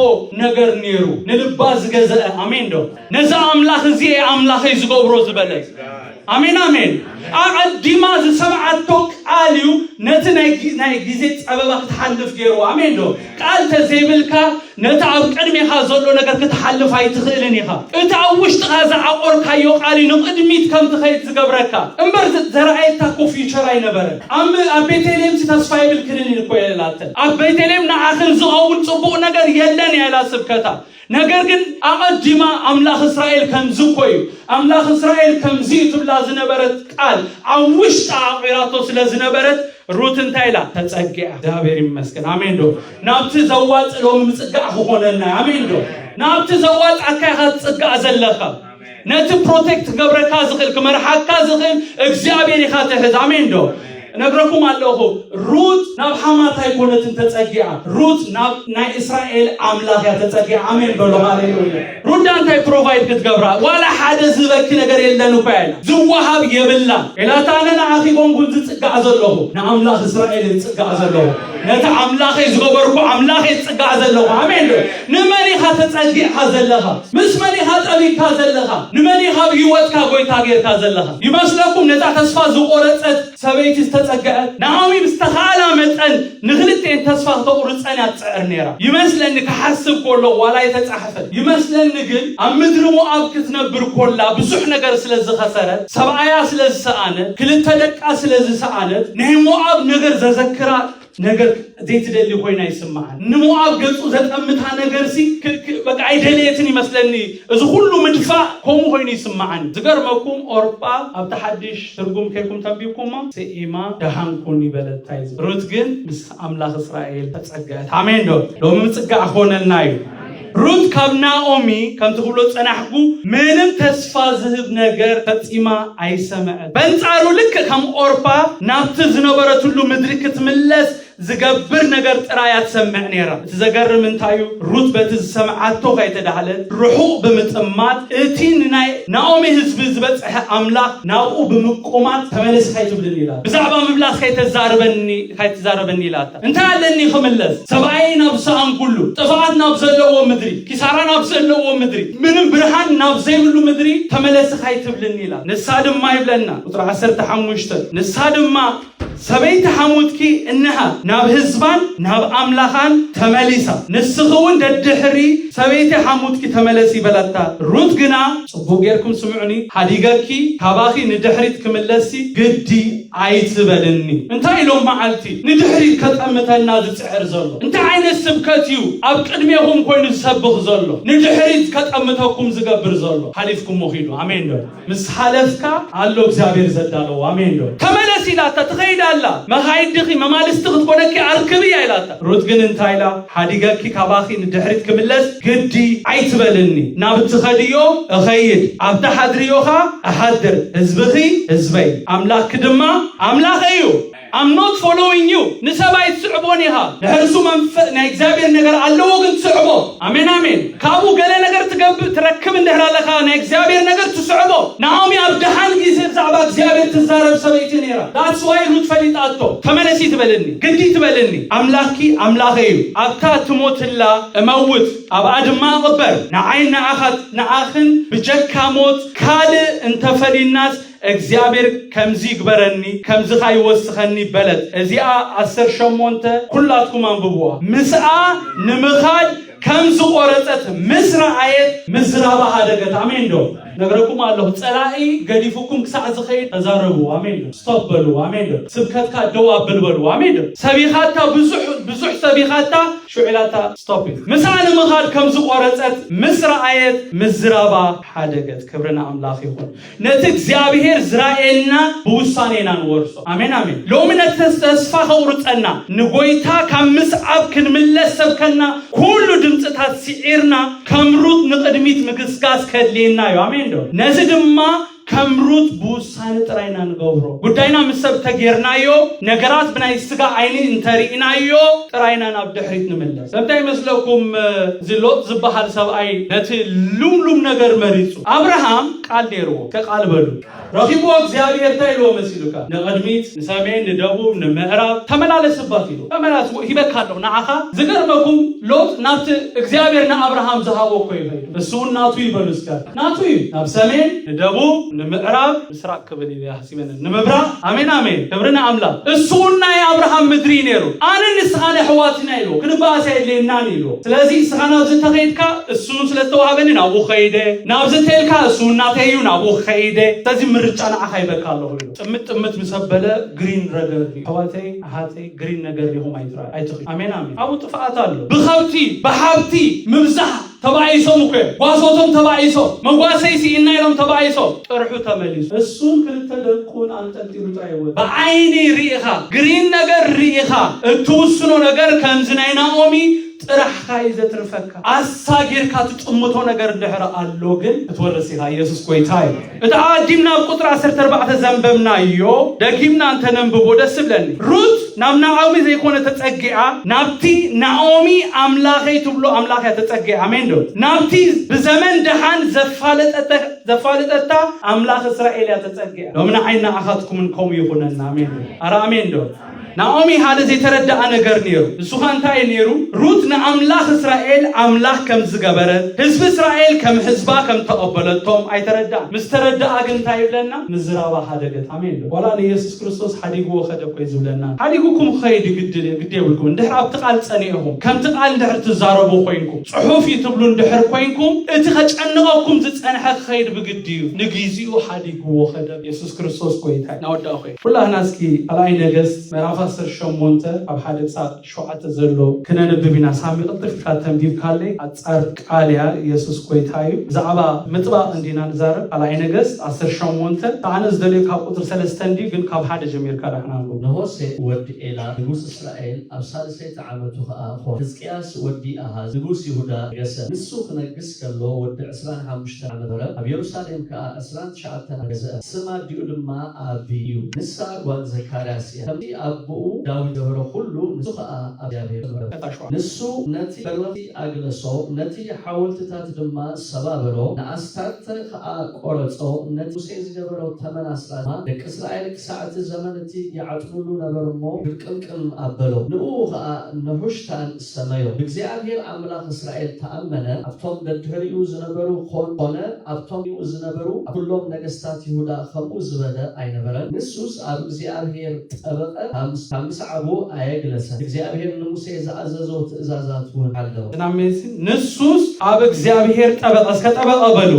ነገር ነይሩ ንልባ ዝገዘአ። ኣሜን ዶ? ነዚ ኣምላኽ እዚ እየ ኣምላኸይ ዝገብሮ ዝበለት። ኣሜን ኣሜን ኣቐዲማ ዝሰምዓቶ ቃል እዩ ነቲ ናይ ግዜ ጸበባ ክትሓልፍ ገይርዎ ኣሜን ዶ ቃል ተዘይብልካ ነቲ ኣብ ቅድሜኻ ዘሎ ነገር ክትሓልፍ ኣይትኽእልን ኢኻ እቲ ኣብ ውሽጥኻ ዝዓቆርካዮ ቃል እዩ ንቕድሚት ከም ትኸይድ ዝገብረካ እምበር ዘረኣየታ እኮ ፊቸር ኣይነበረን ኣብ ቤተልሔም ሲ ተስፋ የብልክንን እኮ የላተን ኣብ ቤተልሔም ንዓኽን ዝኸውን ጽቡቕ ነገር የለን እያ ኢላ ስብከታ ነገር ግን ኣቐዲማ ኣምላኽ እስራኤል ከምዚ እኮ እዩ፣ ኣምላኽ እስራኤል ከምዚ እዩ ትብላ ዝነበረት ቃል ኣብ ውሽጣ ኣቑራቶ ስለ ዝነበረት ሩት እንታይ ኢላ? ተጸጊዓ። እግዚኣብሔር ይመስገን። ኣሜን ዶ? ናብቲ ዘዋጽእ ሎሚ ምጽጋዕ ክኾነና። ኣሜን ዶ? ናብቲ ዘዋጽኣካ ኢኻ ትጽጋዕ ዘለኻ። ነቲ ፕሮቴክት ክገብረካ ዝኽእል ክመርሓካ ዝኽእል እግዚኣብሔር ኢኻ ትሕዝ ኣሜን ዶ እነግረኩም ኣለኹ ሩት ናብ ሓማት ኣይኮነትን ተፀጊዓ ሩት ናብ ናይ እስራኤል ኣምላኽ እያ ተፀጊዓ ኣሜን በሎ ሃሌሉያ ሩዳ እንታይ ፕሮቫይድ ክትገብራ ዋላ ሓደ ዝበኪ ነገር የለን እኳ ያለ ዝወሃብ የብላ ኢላታ ኣነ ንዓኺ ኮንኩን ዝፅጋዕ ዘለኹ ንኣምላኽ እስራኤል ዝፅጋዕ ዘለኹ ነቲ ኣምላኸይ ዝገበርኩ ኣምላኸይ ዝፅጋዕ ዘለኹ ኣሜን ዶ ንመን ኢኻ ተጸጊዕካ ዘለኻ? ምስ መን ኢኻ ጠቢብካ ዘለኻ? ንመን ኢኻ ኣብ ህይወትካ ጎይታ ጌርካ ዘለኻ? ይመስለኩም ነታ ተስፋ ዝቖረጸት ሰበይቲ ዝተጸገዐት ናኦሚ ብዝተኻእላ መጠን ንኽልቲኤን ተስፋ ክተቑርጸን እያ ትጽዕር ኔራ ይመስለኒ ክሓስብ ኮለኹ ዋላ ኣይተጻሕፈን ይመስለኒ ግን ኣብ ምድሪ ሞኣብ ክትነብር ኮላ ብዙሕ ነገር ስለ ዝኸሰረት ሰብኣያ ስለ ዝሰኣነት ክልተ ደቃ ስለ ዝሰኣነት ናይ ሞኣብ ነገር ዘዘክራ ነገር ዘይትደሊ ኮይና ይስምዓን ንሞኣብ ገጹ ዘጠምታ ነገር ሲ በቃ ኣይደለየትን ይመስለኒ እዚ ኩሉ ምድፋእ ከምኡ ኮይኑ ይስምዓን ዝገርመኩም ኦርጳ ኣብቲ ሓድሽ ትርጉም ከይኩም ተንቢብኩማ ስኢማ ደሃን ኩን ይበለታ እዩ ሩት ግን ምስ ኣምላኽ እስራኤል ተጸገዐት ኣሜን ዶ ሎሚ ምጽጋዕ ክኾነልና እዩ ሩት ካብ ናኦሚ ከምቲ ክብሎ ዝጸናሕኩ ምንም ተስፋ ዝህብ ነገር ፈጺማ ኣይሰመዐትን። በንጻሩ ልክእ ከም ኦርፓ ናብቲ ዝነበረትሉ ምድሪ ክትምለስ ዝገብር ነገር ጥራይ እያ ትሰምዕ ነይራ። እቲ ዘገርም እንታይ እዩ፣ ሩት በቲ ዝሰምዓቶ ከይተዳህለት ርሑቕ ብምጥማት እቲ ንናይ ናኦሚ ህዝቢ ዝበጽሐ ኣምላኽ ናብኡ ብምቁማት ተመለሲ ከይትብልኒ ኢላቶ። ብዛዕባ ምምላስ ከይተዛርበኒ ከይትዛረበኒ ኢላቶ። እንታይ ኣለኒ ክምለስ ሰብኣየይ ናብ ዝሰኣንኩሉ፣ ጥፍኣት ናብ ዘለዎ ምድሪ፣ ኪሳራ ናብ ዘለዎ ምድሪ፣ ምንም ብርሃን ናብ ዘይብሉ ምድሪ ተመለሲ ካይትብልኒ ኢላ። ንሳ ድማ ይብለና ቁጽሪ ዓሰርተ ሓሙሽተ ንሳ ድማ ሰበይቲ ሓሙትኪ እንሃ ናብ ህዝባን ናብ ኣምላኻን ተመሊሳ፣ ንስኺ ውን ደድሕሪ ሰበይቲ ሓሙትኪ ተመለሲ በለታ። ሩት ግና ጽቡቕ ጌርኩም ስምዑኒ፣ ሓዲገኪ ካባኺ ንድሕሪት ክምለስሲ ግዲ፣ ኣይትበልኒ እንታይ ኢሎም መዓልቲ ንድሕሪት ከጠምተና ዝጽዕር ዘሎ እንታይ ዓይነት ስብከት እዩ ኣብ ቅድሜኹም ኮይኑ ዝሰብኽ ዘሎ ንድሕሪት ከጠምተኩም ዝገብር ዘሎ ሓሊፍኩሞ ኺዱ ኣሜን ዶ ምስ ሓለፍካ ኣሎ እግዚኣብሔር ዘዳለዎ ኣሜን ዶ ተመለስ ኢላታ ትኸይድ ኣላ መኻይድኺ መማልስቲ ክትኮነኪ ኣርክብያ ኢላታ ሩት ግን እንታይ ኢላ? ሓዲገኪ ካባኺ ንድሕሪት ክምለስ ግዲ ኣይትበልኒ፣ ናብ እትኸድዮ እኸይድ፣ ኣብቲ ሓድርዮ ኸኣ እሓድር፣ ህዝብኺ ህዝበይ፣ ኣምላኽኪ ድማ ኣምላኸይ እዩ። I'm not following you ንሰብ ኣይትስዕቦን ኢኻ ድሕሪ እሱ ናይ እግዚኣብሔር ነገር ኣለዎ ግን ትስዕቦ ኣሜን ኣሜን ካብኡ ገለ ነገር ትገብእ ትረክብ እንድሕር ኣለኻ ናይ እግዚኣብሔር ነገር ትስዕቦ ናኦሚ ኣብ ደሓን ግዜ ብዛዕባ እግዚኣብሔር ትዛረብ ሰበይቲ ነይራ ዳትስ ዋይ ሩት ፈሊጣቶ ተመለሲ ትበልኒ ግዲ ትበልኒ ኣምላኪ ኣምላኸ እዩ ኣብታ ትሞትላ እመውት ኣብኣ ድማ እቕበር ንዓይን ንዓኻት ንዓኽን ብጀካ ሞት ካልእ እንተፈሊናስ እግዚኣብሔር ከምዚ ይግበረኒ ከምዚኻ ይወስኸኒ በለት እዚኣ ዓሰርተ ሸሞንተ ኩላትኩም ኣንብብዋ ምስኣ ንምኻድ ከም ዝቆረጸት ምስ ረኣየት ምዝራባ ሃደገት ኣሜን ዶ ነግረኩም ኣለኹ ጸላኢ ገዲፉኩም ክሳዕ ዝኸይድ ተዛረቡ ኣሜን ዶ ስቶፕ በሉ ኣሜን ዶ ስብከትካ ደው ኣብል በሉ ኣሜን ዶ ሰቢኻታ ብዙሕ ብዙሕ ሰቢኻታ ሽዑላታ ስቶፕ እዩ ምስኣ ንምኻድ ከም ዝቆረጸት ምስ ረኣየት ምዝራባ ሓደገት ክብሪ ንኣምላኽ ይኹን ነቲ እግዚኣብሔር ዝራኤልና ብውሳኔና ንወርሶ ኣሜን ኣሜን ሎሚ ነቲ ተስፋ ከቁርጸና ንጎይታ ካብ ምስዓብ ክንምለስ ሰብከና ኩሉ ድምጽታት ሲዒርና ከም ሩት ንቅድሚት ምግስጋስ ከድልየና እዩ ኣሜን ዶ ነዚ ድማ ከም ሩት ብውሳኔ ጥራይና ንገብሮ ጉዳይና ምስ ሰብ ተጌርናዮ ነገራት ብናይ ስጋ ዓይኒ እንተሪኢናዮ ጥራይና ናብ ድሕሪት ንምለስ እንታይ ይመስለኩም እዚ ሎጥ ዝበሃል ሰብኣይ ነቲ ልምሉም ነገር መሪጹ ኣብርሃም ቃል ነይርዎ ከቃል በሉ ረኺብዎ እግዚኣብሔር እንታይ ኢልዎ መሲሉካ ንቕድሚት ንሰሜን ንደቡብ ንምዕራብ ተመላለስ ባት ኢሉ ተመላስ ሂበካ ኣለኹ ንዓኻ ዝገርመኩም ሎጥ ናብቲ እግዚኣብሔር ንኣብርሃም ዝሃቦ እኮ ይኸይዱ እሱውን ናቱ ይበሉ እስከ ናቱ እዩ ናብ ሰሜን ንደቡብ ንምዕራብ ምስራቅ ክብል እዩ ሃሲበ ነን ንምብራቅ ኣሜን ኣሜን ክብሪ ንኣምላክ እሱውን ናይ ኣብርሃም ምድሪ እዩ ነይሩ ኣነ ንስኻን ኣሕዋትን ኢና ኢልዎ ክንበኣስ ኣየድልየናን ኢልዎ ስለዚ እስኻ ናብዚ እንተኸይድካ እሱውን ስለ ዝተዋህበኒ ናብኡ ከይደ ናብዚ እንተኢልካ እሱውን ናተይ እዩ ናብኡ ክኸይደ ስለዚ ምርጫ ንዓኻ ይበካ ኣለኹ ኢልዎ ጥምት ጥምት ምስ ኣበለ ግሪን ረገር እዩ ኣሕዋተይ ኣሓተይ ግሪን ነገር ዲኹም ኣይትራ ኣይትኽዩ ኣሜን ኣሜን ኣብኡ ጥፍኣት ኣሎ ብከብቲ ብሓብቲ ምብዛሕ ተባኢሶም እኮ እዮም ጓሶቶም ተባኢሶም መጓሰይ ስኢና ኢሎም ተባኢሶም ጥርሑ ተመሊሱ እሱን ክልተ ደቁን ኣንጠልጢሉ ጥራይ ወ ብዓይኒ ርኢኻ ግሪን ነገር ርኢኻ እትውስኖ ነገር ከምዚ ናይ ናኦሚ ጥራሕኻ እዩ ዘትርፈካ ኣሳጊርካ ትጥምቶ ነገር ድሕሪ ኣሎ ግን ክትወርስ ኢኻ ኢየሱስ ጎይታ እዩ እቲ ኣቐዲምና ኣብ ቁጽሪ ዓሰርተ ኣርባዕተ ዘንበብናዮ ደጊምና እንተ ነንብቦ ደስ እብለኒ። ሩት ናብ ናኦሚ ዘይኮነ ተጸጊዓ ናብቲ ናኦሚ ኣምላኸይ ትብሎ ኣምላኽ እያ ተጸጊዓ። ኣሜን ዶ? ናብቲ ብዘመን ደሓን ዘፋለጠተ ዘፋለጠታ ኣምላኽ እስራኤል እያ ተጸጊዓ። ሎሚ ንዓይን ንዓኻትኩምን ከምኡ ይኹነና። ኣሜን ዶ? ኣረ ኣሜን ዶ? ናኦሚ ሓደ ዘይተረድኣ ነገር ነይሩ። ንሱ ኸ እንታይ እዩ ነይሩ? ሩት ንኣምላኽ እስራኤል ኣምላኽ ከም ዝገበረት ህዝቢ እስራኤል ከም ህዝባ ከም ተቐበለቶም ኣይተረድኣን። ምስ ተረድኣ ግን እንታይ ይብለና? ምዝራባ ሓደገት። ኣሜን ዶ? ዋላ ንየሱስ ክርስቶስ ሓዲግዎ ኸደ እኮ እዩ ዝብለና። ሓዲጉኩም ክኸይድ እዩ ግድ ግድ የብልኩም። እንድሕር ኣብቲ ቓል ጸኒዕኹም ከምቲ ቓል እንድሕር ትዛረቡ ኾይንኩም ጽሑፍ እዩ ትብሉ እንድሕር ኮይንኩም እቲ ከጨንቐኩም ዝጸንሐ ክኸይድ ብግዲ እዩ። ንግዚኡ ሓዲግዎ ኸደ። የሱስ ክርስቶስ ጐይታ እዩ። ናወዳእኹ እየ። ኩላህና እስኪ ራእይ ነገስት ምዕራፍ ዓሰርተ ሸሞንተ ኣብ ሓደ ጻት ሸውዓተ ዘሎ ክነንብብ ኢና ሳሚ ክልተ ክፍላት ተንቢብካለይ ኣጻር ቃል እያ የሱስ ጎይታ እዩ ብዛዕባ ምጥባቅ እንዲና ንዛረብ ራእይ ነገስት ዓሰርተ ሸሞንተ ኣነ ዝደልዮ ካብ ቁጽሪ ሰለስተ እንድዩ ግን ካብ ሓደ ጀሚርካ ዳሕና ኣንብቦ። ንሆሴእ ወዲ ኤላ ንጉስ እስራኤል ኣብ ሳልሰይቲ ዓመቱ ኸኣ ኾነ፣ ሕዝቅያስ ወዲ ኣሃዝ ንጉስ ይሁዳ ነገሰ። ንሱ ኽነግስ፣ ከሎ ወዲ ዕስራን ሓሙሽተን ዓመት ነበረ፣ ኣብ የሩሳሌም ከኣ ዕስራን ትሽዓተን ዓመት ገዝአ፣ ስም ኣዲኡ ድማ ኣቢ እዩ፣ ንሳ ጓል ዘካርያስ እያ፣ ከምቲ ኣቦኡ ዳዊት ዝገበሮ ዅሉ ንሱ ኸኣ ኣብ እግዚኣብሄር ተመረኰሰ። ንሱ ነቲ በርወንቲ ኣግለሶ፣ ነቲ ሓወልትታት ድማ ሰባበሮ፣ ንኣስታርተ ኸኣ ቈረጾ፣ ነቲ ሙሴ ዝገበሮ ተመን ኣስራት ድማ ደቂ እስራኤል ክሳዕ እቲ ዘመን እቲ ይዓጥኑሉ ነበሩ እሞ፣ ግርቅምቅም ኣበሎ፣ ንእኡ ኸኣ ነሑሽታን ሰመዮ። ብእግዚኣብሄር ኣምላኽ እስራኤል ተኣመነ፣ ኣብቶም ደድሕሪኡ ዝነበሩ ዀን ዀነ ኣብቶምኡ ዝነበሩ ኣብ ኵሎም ነገስታት ይሁዳ ኸምኡ ዝበለ ኣይነበረን። ንሱስ ኣብ እግዚኣብሄር ጠበቐ፣ ካብ ምስዓቡ ኣየግለሰን፣ እግዚኣብሄር ንሙሴ ዝኣዘዞ ትእዛዛት እውን ሓለወ። ንሱስ ኣብ እግዚኣብሄር ጠበቐ፣ እስከ ጠበቐ በሉ።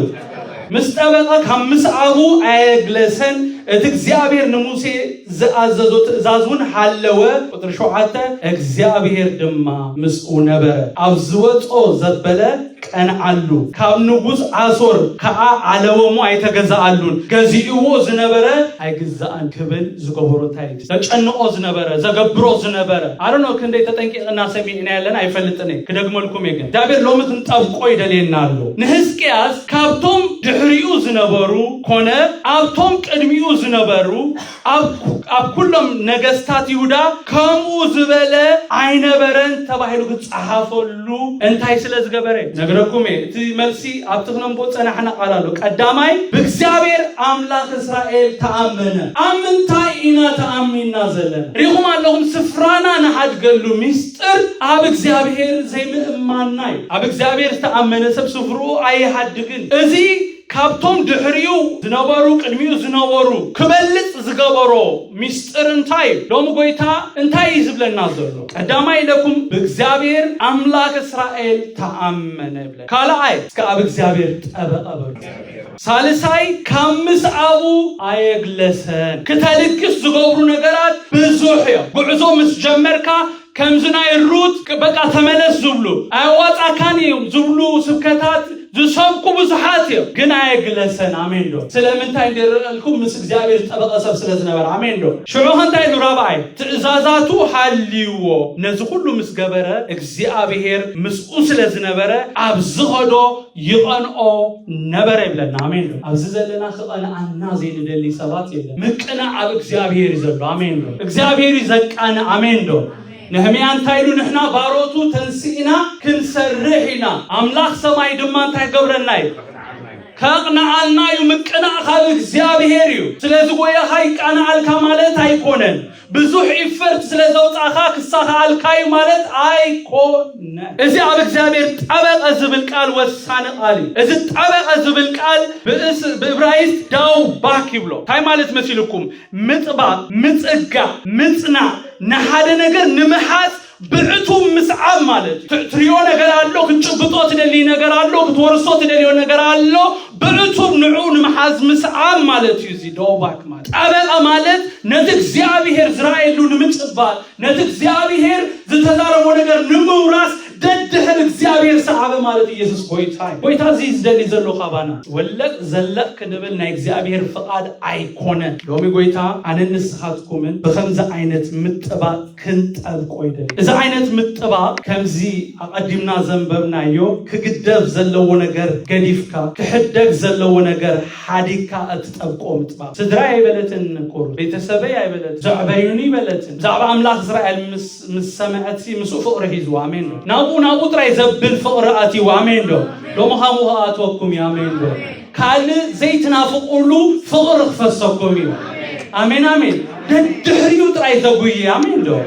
ምስ ጠበቐ ካብ ምስዓቡ ኣየግለሰን፣ እቲ እግዚኣብሄር ንሙሴ ዝኣዘዞ ትእዛዝውን ሃለወ፣ ቁጽሪ ሸውዓተ፣ እግዚኣብሄር ድማ ምስኡ ነበረ፣ ኣብ ዝወጾ ዘበለ ቀንዓሉ፣ ካብ ንጉስ ኣሶር ከኣ ዓለወ እሞ ኣይተገዛኣሉን፣ ገዚእዎ ዝነበረ ኣይግዛእን ክብል ዝገበሮ እንታይ እዩ? ዘጨንቆ ዝነበረ ዘገብሮ ዝነበረ ኣረኖ ክንደይ ተጠንቂቕና ሰሚዕና ያለን ኣይፈልጥን እየ ክደግመልኩም እየ ግን እግዚኣብሔር ሎሚ ክንጠብቆ ይደልየና ኣሎ ንህዝቅያስ ካብቶም ድሕሪኡ ዝነበሩ ኮነ ኣብቶም ቅድሚኡ ዝነበሩ ኣብ ኩሎም ነገስታት ይሁዳ ከምኡ ዝበለ ኣይነበረን ተባሂሉ ክፀሓፈሉ ዝገብረሉ እንታይ ስለ ዝገበረ? ነግረኩም እየ። እቲ መልሲ ኣብቲ ክነንብቦ ዝጸናሕና ቃል ኣሎ። ቀዳማይ ብእግዚኣብሔር ኣምላኽ እስራኤል ተኣመነ። ኣብ ምንታይ ኢና ተኣሚንና ዘለና? ርኢኹም ኣለኹም ስፍራና ንሓድገሉ ምስጢር ኣብ እግዚኣብሔር ዘይምእማንና እዩ። ኣብ እግዚኣብሔር ዝተኣመነ ሰብ ስፍርኡ ኣይሓድግን። እዚ ካብቶም ድሕሪኡ ዝነበሩ ቅድሚኡ ዝነበሩ ክበልጽ ዝገበሮ ምስጢር እንታይ እዩ? ሎሚ ጎይታ እንታይ እዩ ዝብለና ዘሎ? ቀዳማይ ኢለኩም ብእግዚኣብሔር ኣምላክ እስራኤል ተኣመነ ይብለ። ካልኣይ እስከ ኣብ እግዚኣብሔር ጠበቐ በሉ። ሳልሳይ ካብ ምስኣቡ ኣየግለሰን። ክተልግስ ዝገብሩ ነገራት ብዙሕ እዮም። ጉዕዞ ምስ ጀመርካ ከምዚ ናይ ሩት በቃ ተመለስ ዝብሉ ኣየዋጻካን እዮም ዝብሉ ስብከታት ዝሰብኩ ብዙሓት እዮም ግን ኣየግለሰን ኣሜን ዶ ስለምንታይ እንዲርኣልኩም ምስ እግዚኣብሔር ዝጠበቐ ሰብ ስለ ዝነበረ ኣሜን ዶ ሽዑ ከንታይ ኢሉ ራብኣይ ትእዛዛቱ ሃልይዎ ነዚ ኩሉ ምስ ገበረ እግዚኣብሔር ምስኡ ስለ ዝነበረ ኣብ ዝኸዶ ይቐንኦ ነበረ ይብለና። ኣሜን ዶ? ኣብዚ ዘለና ክቐንኣና ዘይንደሊ ሰባት የለን። ምቅናዕ ኣብ እግዚኣብሔር እዩ ዘሎ። ኣሜን ዶ? እግዚኣብሔር እዩ ዘቃንእ። ኣሜን ዶ? ነህምያ እንታይ ኢሉ ንሕና ባሮቱ ተንስእና ክንሰርሕ ኢና፣ ኣምላኽ ሰማይ ድማ እንታይ ገብረና እዩ ከቕንኣልና እዩ። ምቅናዕ ካብ እግዚኣብሔር እዩ። ስለዚ ጎያኻ ይቃንኣልካ ማለት ኣይኮነን። ብዙሕ ኢፈርት ስለዘውጻእካ ክሳኽኣልካ እዩ ማለት ኣይኮነን። እዚ ኣብ እግዚኣብሔር ጠበቀ ዝብል ቃል ወሳኒ ቃል እዩ። እዚ ጠበቀ ዝብል ቃል ብእብራይስጥ ዳው ባክ ይብሎ። ታይ ማለት መሲልኩም ምጥባቅ፣ ምጽጋዕ፣ ምጽናዕ፣ ንሓደ ነገር ንምሓዝ ብዕቱብ ምስዓብ ማለት እዩ። ትሪኦ ነገር ኣሎ፣ ክትጭብጦ ትደልይ ነገር ኣሎ፣ ክትወርሶ ትደልዮ ነገር ኣሎ፣ ብዕቱብ ንዑ ንምሓዝ ምስዓብ ማለት እዩ። እዚ ዶባክ ማለት ጠበቃ ማለት ነቲ እግዚኣብሄር ዝረኣየሉ ንምጭባጥ ነቲ እግዚኣብሄር ዝተዛረቦ ነገር ንምውራስ ደድሕር እግዚኣብሄር ሰዓበ ማለት ኢየሱስ ጎይታ እዩ። ጎይታ እዚ ዝደሊ ዘሎ ካባና ወለቅ ዘለቅ ክንብል ናይ እግዚኣብሄር ፍቃድ ኣይኮነን። ሎሚ ጎይታ ኣነን ንስኻትኩምን ብከምዚ ዓይነት ምጥባጥ ክንጠልቆ ይደሊ። እዚ ዓይነት ምጥባቕ ከምዚ ኣቐዲምና ዘንበብናዮ ክግደፍ ዘለዎ ነገር ገዲፍካ ክሕደግ ዘለዎ ነገር ሓዲግካ እትጠብቆ ምጥባቕ። ስድራይ ኣይበለትን ንቁሩብ፣ ቤተሰበይ ኣይበለትን፣ ዘዕበዩኒ ኣይበለትን፣ ብዛዕባ ኣምላኽ እስራኤል ምስ ምስ ሰምዐትሲ ምስኡ ፍቕሪ ሒዝዋ። ኣሜን ዶ? ናብኡ ናብኡ ጥራይ ዘብል ፍቕሪ ኣትይዋ። ኣሜን ዶ? ሎሚ ኻምኡ ክኣትወኩም እዩ። ኣሜን ዶ? ካልእ ዘይትናፍቁሉ ፍቅሪ ክፈሰኩም እዩ ኣሜን ኣሜን ደድሕሪኡ ጥራይ ተጉይ ኣሜን ዶ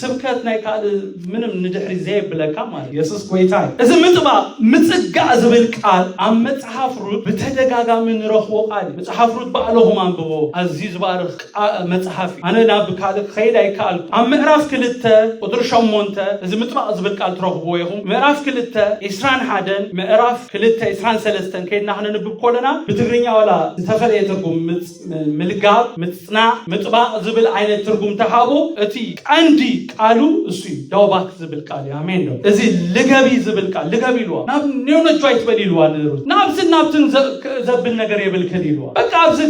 ስብከት ናይ ካልእ ምንም ንድሕሪ ዘየብለካ ማለት የሱስ ጎይታ እዩ እዚ ምጥባቕ ምፅጋዕ ዝብል ቃል ኣብ መፅሓፍ ሩት ብተደጋጋሚ ንረኽቦ ቃል እዩ መፅሓፍ ሩት ባዕለኹም ኣንብቦ ኣዝዩ ዝባርኽ ቃ መጽሓፍ እዩ። ኣነ ናብ ካልእ ክኸይድ ኣይከኣልኩን። ኣብ ምዕራፍ ክልተ ቁጽሪ ሸሞንተ እዚ ምጥባቕ ዝብል ቃል ትረኽብዎ ኢኹም። ምዕራፍ ክልተ ዕስራን ሓደን ምዕራፍ ክልተ ዕስራን ሰለስተን ከይድና ክነንብብ ኮለና ብትግርኛ ዋላ ዝተፈለየ ትርጉም ምጽ ምልጋብ፣ ምጽናዕ፣ ምጥባቕ ዝብል ዓይነት ትርጉም ተሃቦ እቲ ቀንዲ ቃሉ እሱ እዩ። ዳውባክ ዝብል ቃል እዩ ኣሜን ዶ እዚ ልገቢ ዝብል ቃል ልገቢ ኢልዋ ናብ ኔውነቹ ኣይትበሊ ኢልዋ ንሩት ናብዚ ናብትን ዘብል ነገር የብልክን ኢልዋ በቃ ኣብዚ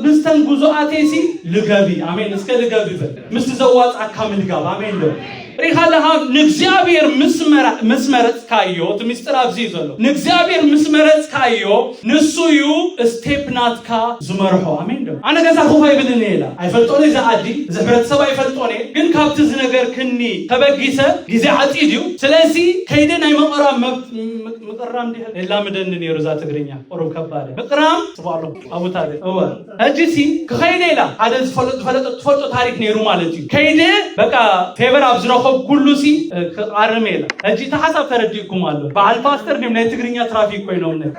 ምስተን ጉዙኣቴሲ ልገቢ ኣሜን እስከ ልገቢ በል ምስቲ ዘዋፅኣካ ምልጋብ ኣሜን ዶ ሪኻ ለኻ ንእግዚኣብሔር ምስ መረፅካዮ እቲ ምስጢር ኣብዚ እዩ ዘሎ ንእግዚኣብሔር ምስ መረፅካዮ ንሱ እዩ ስቴፕ ናትካ ዝመርሖ ኣሜን ዶ ኣነ ገዛ ኮፍ ኣይብልን እየ ኢላ ኣይፈልጦን እየ እዚ ዓዲ እዚ ሕብረተሰብ ኣይፈልጦን እየ ግን ካብቲ ዝነገርክኒ ተበጊሰ ግዜ ዓፂድ እዩ ስለዚ ከይደ ናይ ምቕራም መብ- ምቕራም ድሕር የላምደኒ ነይሩ እዛ ትግርኛ ቁሩብ ከባድ እያ። ምቕራም ጽቡቅ ኣሎ ኣቡታ ግን እወ ሕጂሲ ክኸይደ ኢላ ሓደ ዝፈለጦ ትፈልጦ ታሪክ ነይሩ ማለት እዩ ከይደ በቃ ፌቨር ኣብ ዝረኸብኩሉሲ ክኣርም ኢላ ሕጂ እቲ ሓሳብ ተረዲእኩም ኣሎ በዓል ፓስተር ድም ናይ ትግርኛ ትራፊክ ኮይኖም ን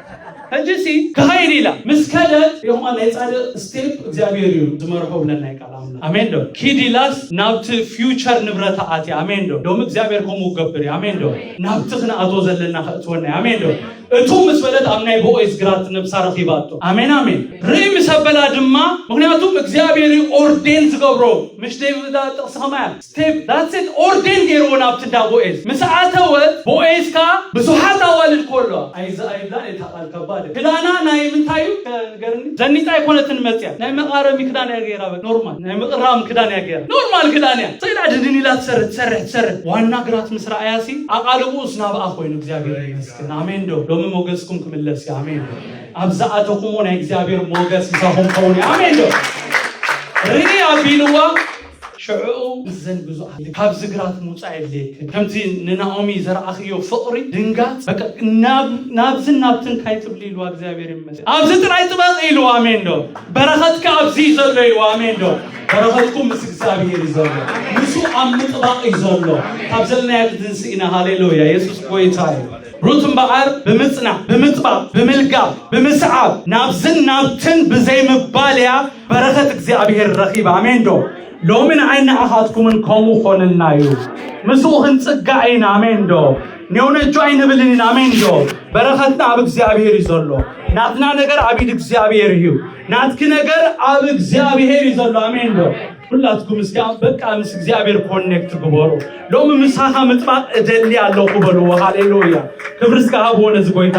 ሕጂሲ ክኸይድ ኢላ ምስ ከደት ይኹማ ናይ ጻድቅ ስቴፕ እግዚኣብሔር እዩ ዝመርሖ ብለናይ ቃል ኣምላ ኣሜን ዶ ኪድ ኢላስ ናብቲ ፊውቸር ንብረታ ኣትያ ኣሜን ዶ ሎሚ እግዚኣብሔር ከምኡ ገብር ኣሜን ዶ ናብቲ ክንኣትዎ ዘለና ከእትወና ኣሜን ዶ እቱ ምስ በለት ኣብ ናይ ቦዔዝ ግራት ነብሳ ረኺባቶ። ኣሜን ኣሜን ርእይ ምስ ኣበላ ድማ ምክንያቱም እግዚኣብሔር እዩ ኦርዴን ዝገብሮ ምሽ ደይ እዛ ጥቕሲ ከማይ እያ ስቴፕ ዳትስ ኢት ኦርዴን ገይርዎ ናብቲ እንዳ ቦዔዝ ምስ ኣተወት ቦዔዝ ከኣ ብዙሓት ኣዋልድ እኮ ኣለዋ ኣይዛ ኣይብላን እታ ቃል ከባድ እያ። ክዳና ናይ ምንታይ እዩ ከ ንገርኒ ዘኒጣ ኣይኮነትን መጽያ ናይ መቓረሚ ክዳን እያ ገይራ በቃ ኖርማል ናይ ምቕራም ክዳን እያ ገይራ ኖርማል ክዳን እያ ሰይዳ ድንን ኢላ ትሰርሕ ትሰርሕ ትሰርሕ ዋና ግራት ምስ ረኣያሲ ኣቓልቦኡስ ናብኣ ኮይኑ እግዚኣብሔር ይመስገን ይመስገን ኣሜን ዶ ሎሚ ሞገስኩም ክምለስ እዩ ኣሜን ዶ ኣብ ዝኣተኹምዎ ናይ እግዚኣብሔር ሞገስ ምሳኹም ከውን እዩ ኣሜን ዶ ርኢ ኣቢልዋ ሽዕኡ እዘን ብዙኣት ካብ ዝግራት ምውፃእ የድልየክን ከምዚ ንናኦሚ ዘረኣኽዮ ፍቕሪ ድንጋፅ በቃ ናብ- ናብዝን ናብትን እንታይ ትብሊ ኢልዋ እግዚኣብሔር ይመስል ኣብዚ ጥራይ ጥበቕ ኢልዋ ኣሜን ዶ በረኸትካ ኣብዚ እዩ ዘሎ ኢልዋ ኣሜን ዶ በረኸትኩም ምስ እግዚኣብሔር እዩ ዘሎ ንሱ ኣብ ምጥባቕ እዩ ዘሎ ካብ ዘለናዮ ትትንስእ ኢና ሃሌሉያ የሱስ ጎይታ እዩ ሩት እምበኣር ብምጽናዕ ብምጥባቕ ብምልጋብ ብምስዓብ ናብዝን ናብትን ብዘይምባል እያ በረኸት እግዚኣብሔር ረኺባ ኣሜን ዶ ሎሚ ንዓይ ንዓኻትኩምን ከምኡ ኾንልና እዩ ምስኡ ክንጽጋዕ ኢና ኣሜን ዶ ኔውነጆ ኣይንብልን ኢና ኣሜን ዶ በረኸትና ኣብ እግዚኣብሔር እዩ ዘሎ ናትና ነገር ኣብ ኢድ እግዚኣብሔር እዩ ናትኪ ነገር ኣብ እግዚኣብሔር እዩ ዘሎ ኣሜን ዶ ሁላትኩም እስኪ በቃ ምስ እግዚኣብሔር ኮኔክት ግበሩ ሎሚ ምሳኻ ምጥባቅ እደሊ ኣለኹ በልዎ ሃሌሉያ ክብሪ እስከ ሃብዎ ነዚ ጎይታ